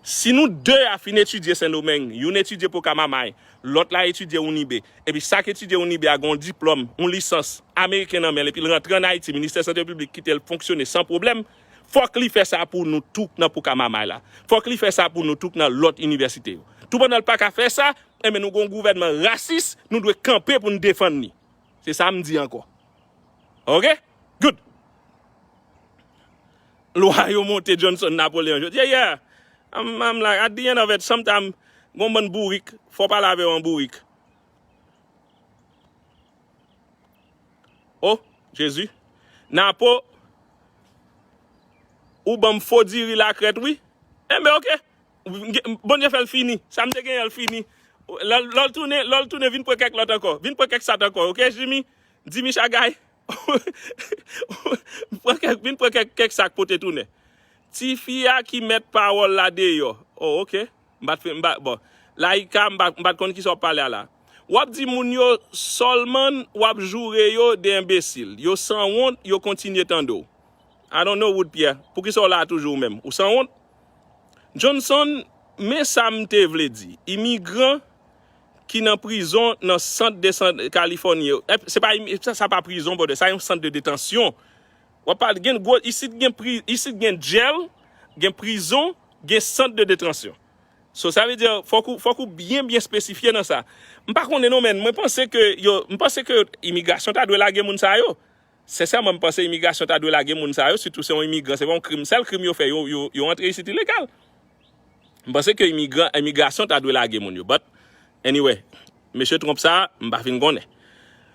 si nou 2 a fin etidye sendomeng youn etidye pokamamay lòt la etidye unibe epi sak etidye unibe a gen yon diplòm yon lisans ameriken nan menl epi l rantre an ayiti ministè sante piblik kite l fonksyone san pwoblèm Fòk li fè sa pou nou tou nan Poukamamay la. Fòk li fè sa pou nou tou nan lòt inivèsite yo. Tou pandan l pa ka fè sa, enben nou gen yon gouvènman rasis, nou dwe kanpe pou nou defann li. Se sa m di ankò. Ok? Good! Lwa yo monte Johnson Napoleon jodi a. Yeah! I'm, I'm like, at the end of it, sometimes, gen yon bann bourik, fò w pale avè yo an bourik. Oh Jezi Napo ou banm fo diri la krèt wi Enben ok Bondye fèl fini Sam te genyen l fini Lè l tounen lè l tounen vin pran kèk lòt ankò vin pran kèk sat ankò ok Jimmy Jimmy Chagay vin pran kèk sak pote tounen Tifi a ki mèt pawòl la deyò Oh ok. M pa t fin, m pa, bon. Laïka, m pa, m pa t konn kisa w ap pale a la. W ap di moun yo sòlmann w ap joure yo de enbesil. Yo sanwont, yo kontinye tande w. I don't know Wood Pierre, poukisa w la a toujou ou menm? Ou sanwont? Johnson, men sa m te vle di. Imigran ki nan prizon nan sant de sant Kalifòni yo, se pa, sa pa prizon brother, sa yon sant de detansyon. Wap pale gen gwo isit gen pri isit gen dyèl gen prizon gen sant de detransyon so sa vle di fòk ou fòk ou byen byen espesifye nan sa m pa konnen non men mwen panse ke yo m panse ke imigrasyon ta dwe lage moun sa yo sensèman m panse imigrasyon ta dwe lage moun sa yo sitou se yon imigran se pa yon krim sèl krim yo fè yo yo yo antre isit ilegal M panse ke imigran, imigrasyon ta dwe lage moun yo but anyway mesye Trump sa m pa fin konnen.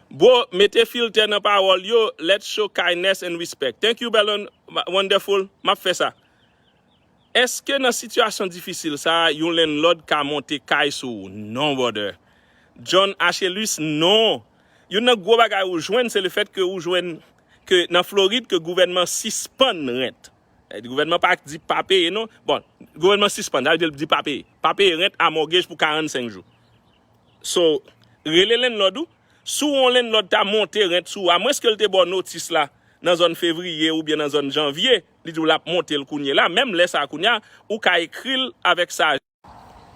Bro mete filtè nan pawòl yo let's show kindness and respect thank you bel and wonderful map fè sa Eske nan sitiyasyon difisil sa yon landlord ka monte kay sou ou non brother John Achelus non Youn nan gwo bagay ou jwenn se le fèt ke ou jwenn ke nan Florid ke gouvènman sispann rent Gouvènman pa di pa peye non. Bon, gouvènman sispann, sa vle di l di pa peye. Pa peye rent a mògej pou 45 jou. So, rele lennlòd ou. Si yon lennlòd ta monte rent sou ou, amwens ke l te ba w notis la nan zòn fevriye oubyen nan zòn janvye, li di w l ap monte l kounye la, menm lè sa a kounye a, ou ka ekri l avèk sa a.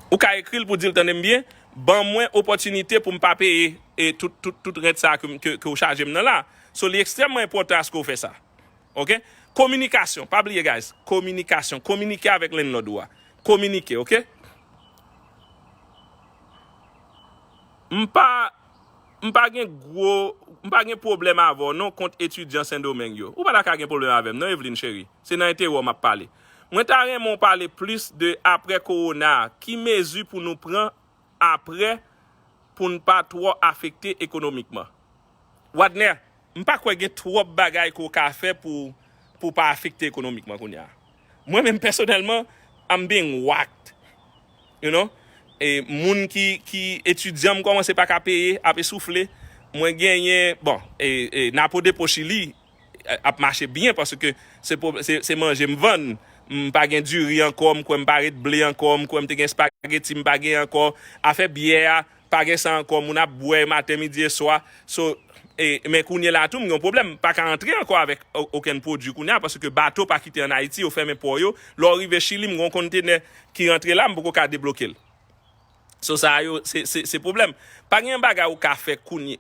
Ou ka ekri l pou di l tande m byen, ban mwen opòtinite pou m pa peye tout rent sa ke w chaje m nan la. So li ekstrèmman enpòtan aske w fè sa. Ok. Kominikasyon, pa bliye guys, kominikasyon, kominike avèk landlord ou a. Kominike ok. M pa M pa gen gwo M pa gen pwoblèm avè w non kont etidyan Sendomeng yo. Ou pa ta ka gen pwoblèm avè m non Evelyne cheri. Se nan enterè w m ap pale. Mwen ta renmen w pale plis de aprè kowona a, ki mezi pou nou pran aprè pou n pa twò afekte ekonomikman? Wadner, M pa kwè gen twòp bagay ke w ka fè pou w pa afekte ekonomikman kounya. Mwen menm pèsonèlman, I'm being whacked, you know, e moun ki etidyan m kòmanse pa ka peye, ap esoufle, mwen genyen, bon, e napo depo chili ap mache byen paske se manje m vann m pa gen diri ankò m kwè m pa ret ble ankò m kwè m te gen spageti m pa gen ankò afè byè a pa gen sa ankò moun ap bwè maten midi e swa so men kounye la tou m gen yon pwoblèm m pa ka antre ankò avèk okenn pwodui kounye a paske bato pa kite an Ayiti yo fèmen pò yo lè w rive Chili m gen yon konntenè ki rantre la m poko ka debloke l. So sa yo se pwoblèm. Pa gen yon bagay ou ka fè kounye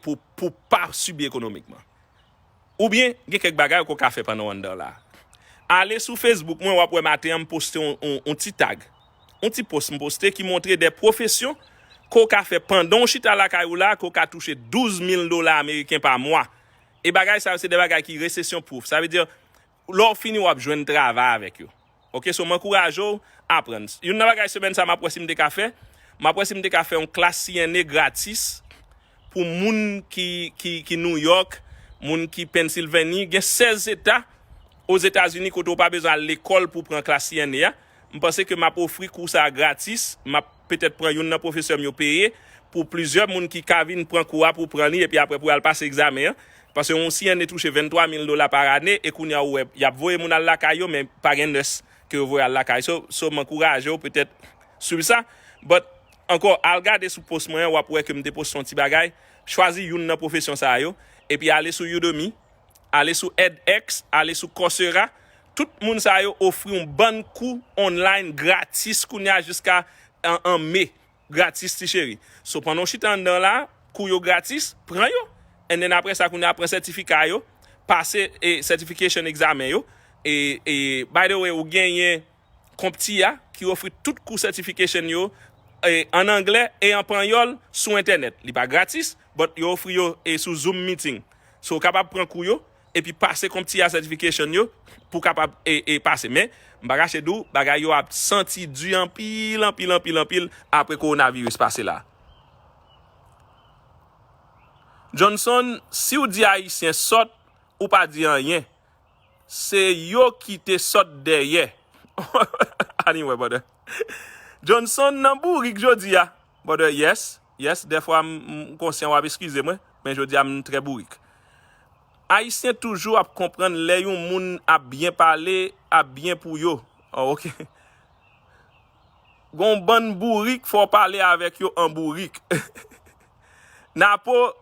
pou ou pa sibi ekonomikman. Oubyen gen kèk bagay ke w ka fè pandan w anndan la. Ale sou Facebook mwen w ap wè maten an m poste yon ti tag, yon ti post m poste ki montre de pwofesyon ke w ka fè pandan w chita lakay ou la ke w ka touche 12 mil dola ameriken pa mwa. E bagay sa yo se de bagay ki resesyon pwoufe. Sa vle di Lè w fini w ap jwenn travay avèk yo. Ok so m ankouraje w aprann. Youn nan bagay semèn sa m ap wè si m te ka fè, m ap wè si m te ka fè yon klas CNA gratis pou moun ki New York, moun ki Pennsylvanie. Gen 16 zeta ozetazini kote w pa bezwen al lekòl pou w pran klas CNA a. M panse ke m ap ofri kou sa a gratis. M ap. petèt pran youn nan pwofesè m yo peye pou plizyè moun ki ka vin pran kou a pou pran li epi aprè pou yo al pase egzamen an. Pase yon CNA touche 23 mil dola pa ane e kounya ou wè y ap voye moun al lakay yo men pa gen nurse ke yo voye al lakay so so m ankouraje w petèt swiv sa but ankò al gade sou post mwen an w ap wè ke m te poste yon ti bagay chwazi youn nan pwofesyon sa yo epi ale sou Udemy ale sou edx, ale sou coursera, tout moun sa yo ofri yon bann kou online gratis kounye a jiska 1 me, gratis ti cheri. So pandan w chita anndan w la, kou yo gratis, pran yo and then aprè sa kounye a pran sètifika yo, pase certification examen yo e by the way ou genyen CompTIA, ki ofri tout kou certification yo an anglè e an panyòl sou entènèt. Li pa gratis, but yo ofri yo sou zoom meeting. So ou kapab pran kou yo epi pase CompTIA certification yo pou kapab pase. Men, m pa kache di w, bagay yo ap santi di anpil, anpil, anpil, anpil apre coronavirus pase la. Johnson, si w di Ayisyen sòt, ou pa di anyen. Se yo ki te sot dèyè. Anyway brother. Johnson nan bourik jodi a. Brother yes, yes dèfwa m konsyan wap eskize mwen, men jodi a m trè bourik. Ayisyen toujou ap konprann lè yon moun ap byen pale, ap byen pou yo. Oh ok. Gen yon bann bourik fò w pale avèk yo an bourik. Napo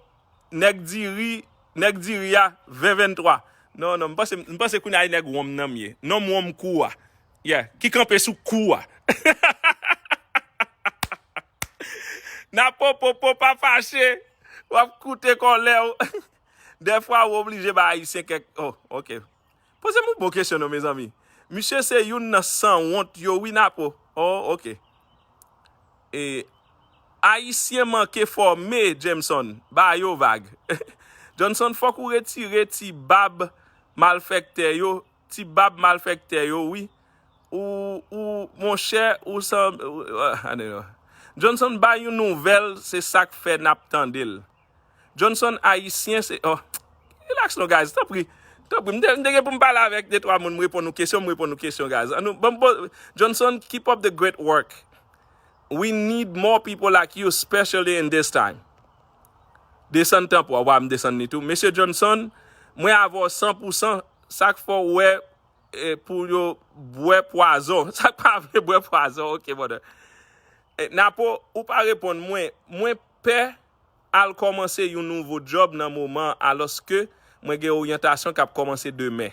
Nèg diri Nèg diri a 20 23 Non non m panse m panse kounye a e nèg wonm nan m ye Nonm wonm kou a Yeah Ki kanpe sou kou a Napo popo pa fache W ap koute kòlè w Dèfwa ou oblije bay Ayisyen kèk Oh ok Pozem yon bon kesyon non mezanmi. Misye se youn nan sanwont yo wi Napo. Oh ok. E Ayisyen manke fòme Jameson. Ba yo vag. Johnson fòk ou retire ti bab malfèktè yo, ti bab malfèktè yo wi. Ou ou monchè ou sanble Anyway. Johnson bay yon nouvèl se sak fè nap tandel. Johnson ayisyen se oh relax non guys tanpri tanpri m te gen pou m pale avèk de twa moun m reponn nou kesyon m reponn nou kesyon guys an nou banm poz Johnson keep up the great work we need more people like you specially in this time desann tanpri w wè m desann li tou mesye Johnson mwen avè w san pou san sak fè w wè pou yo bwè pwazon sak pa vle bwè pwazon ok brother Napo ou pa reponn mwen mwen pè al kòmanse yon nouvo djòb nan moman an alòske mwen gen oryantasyon k ap kòmanse demen.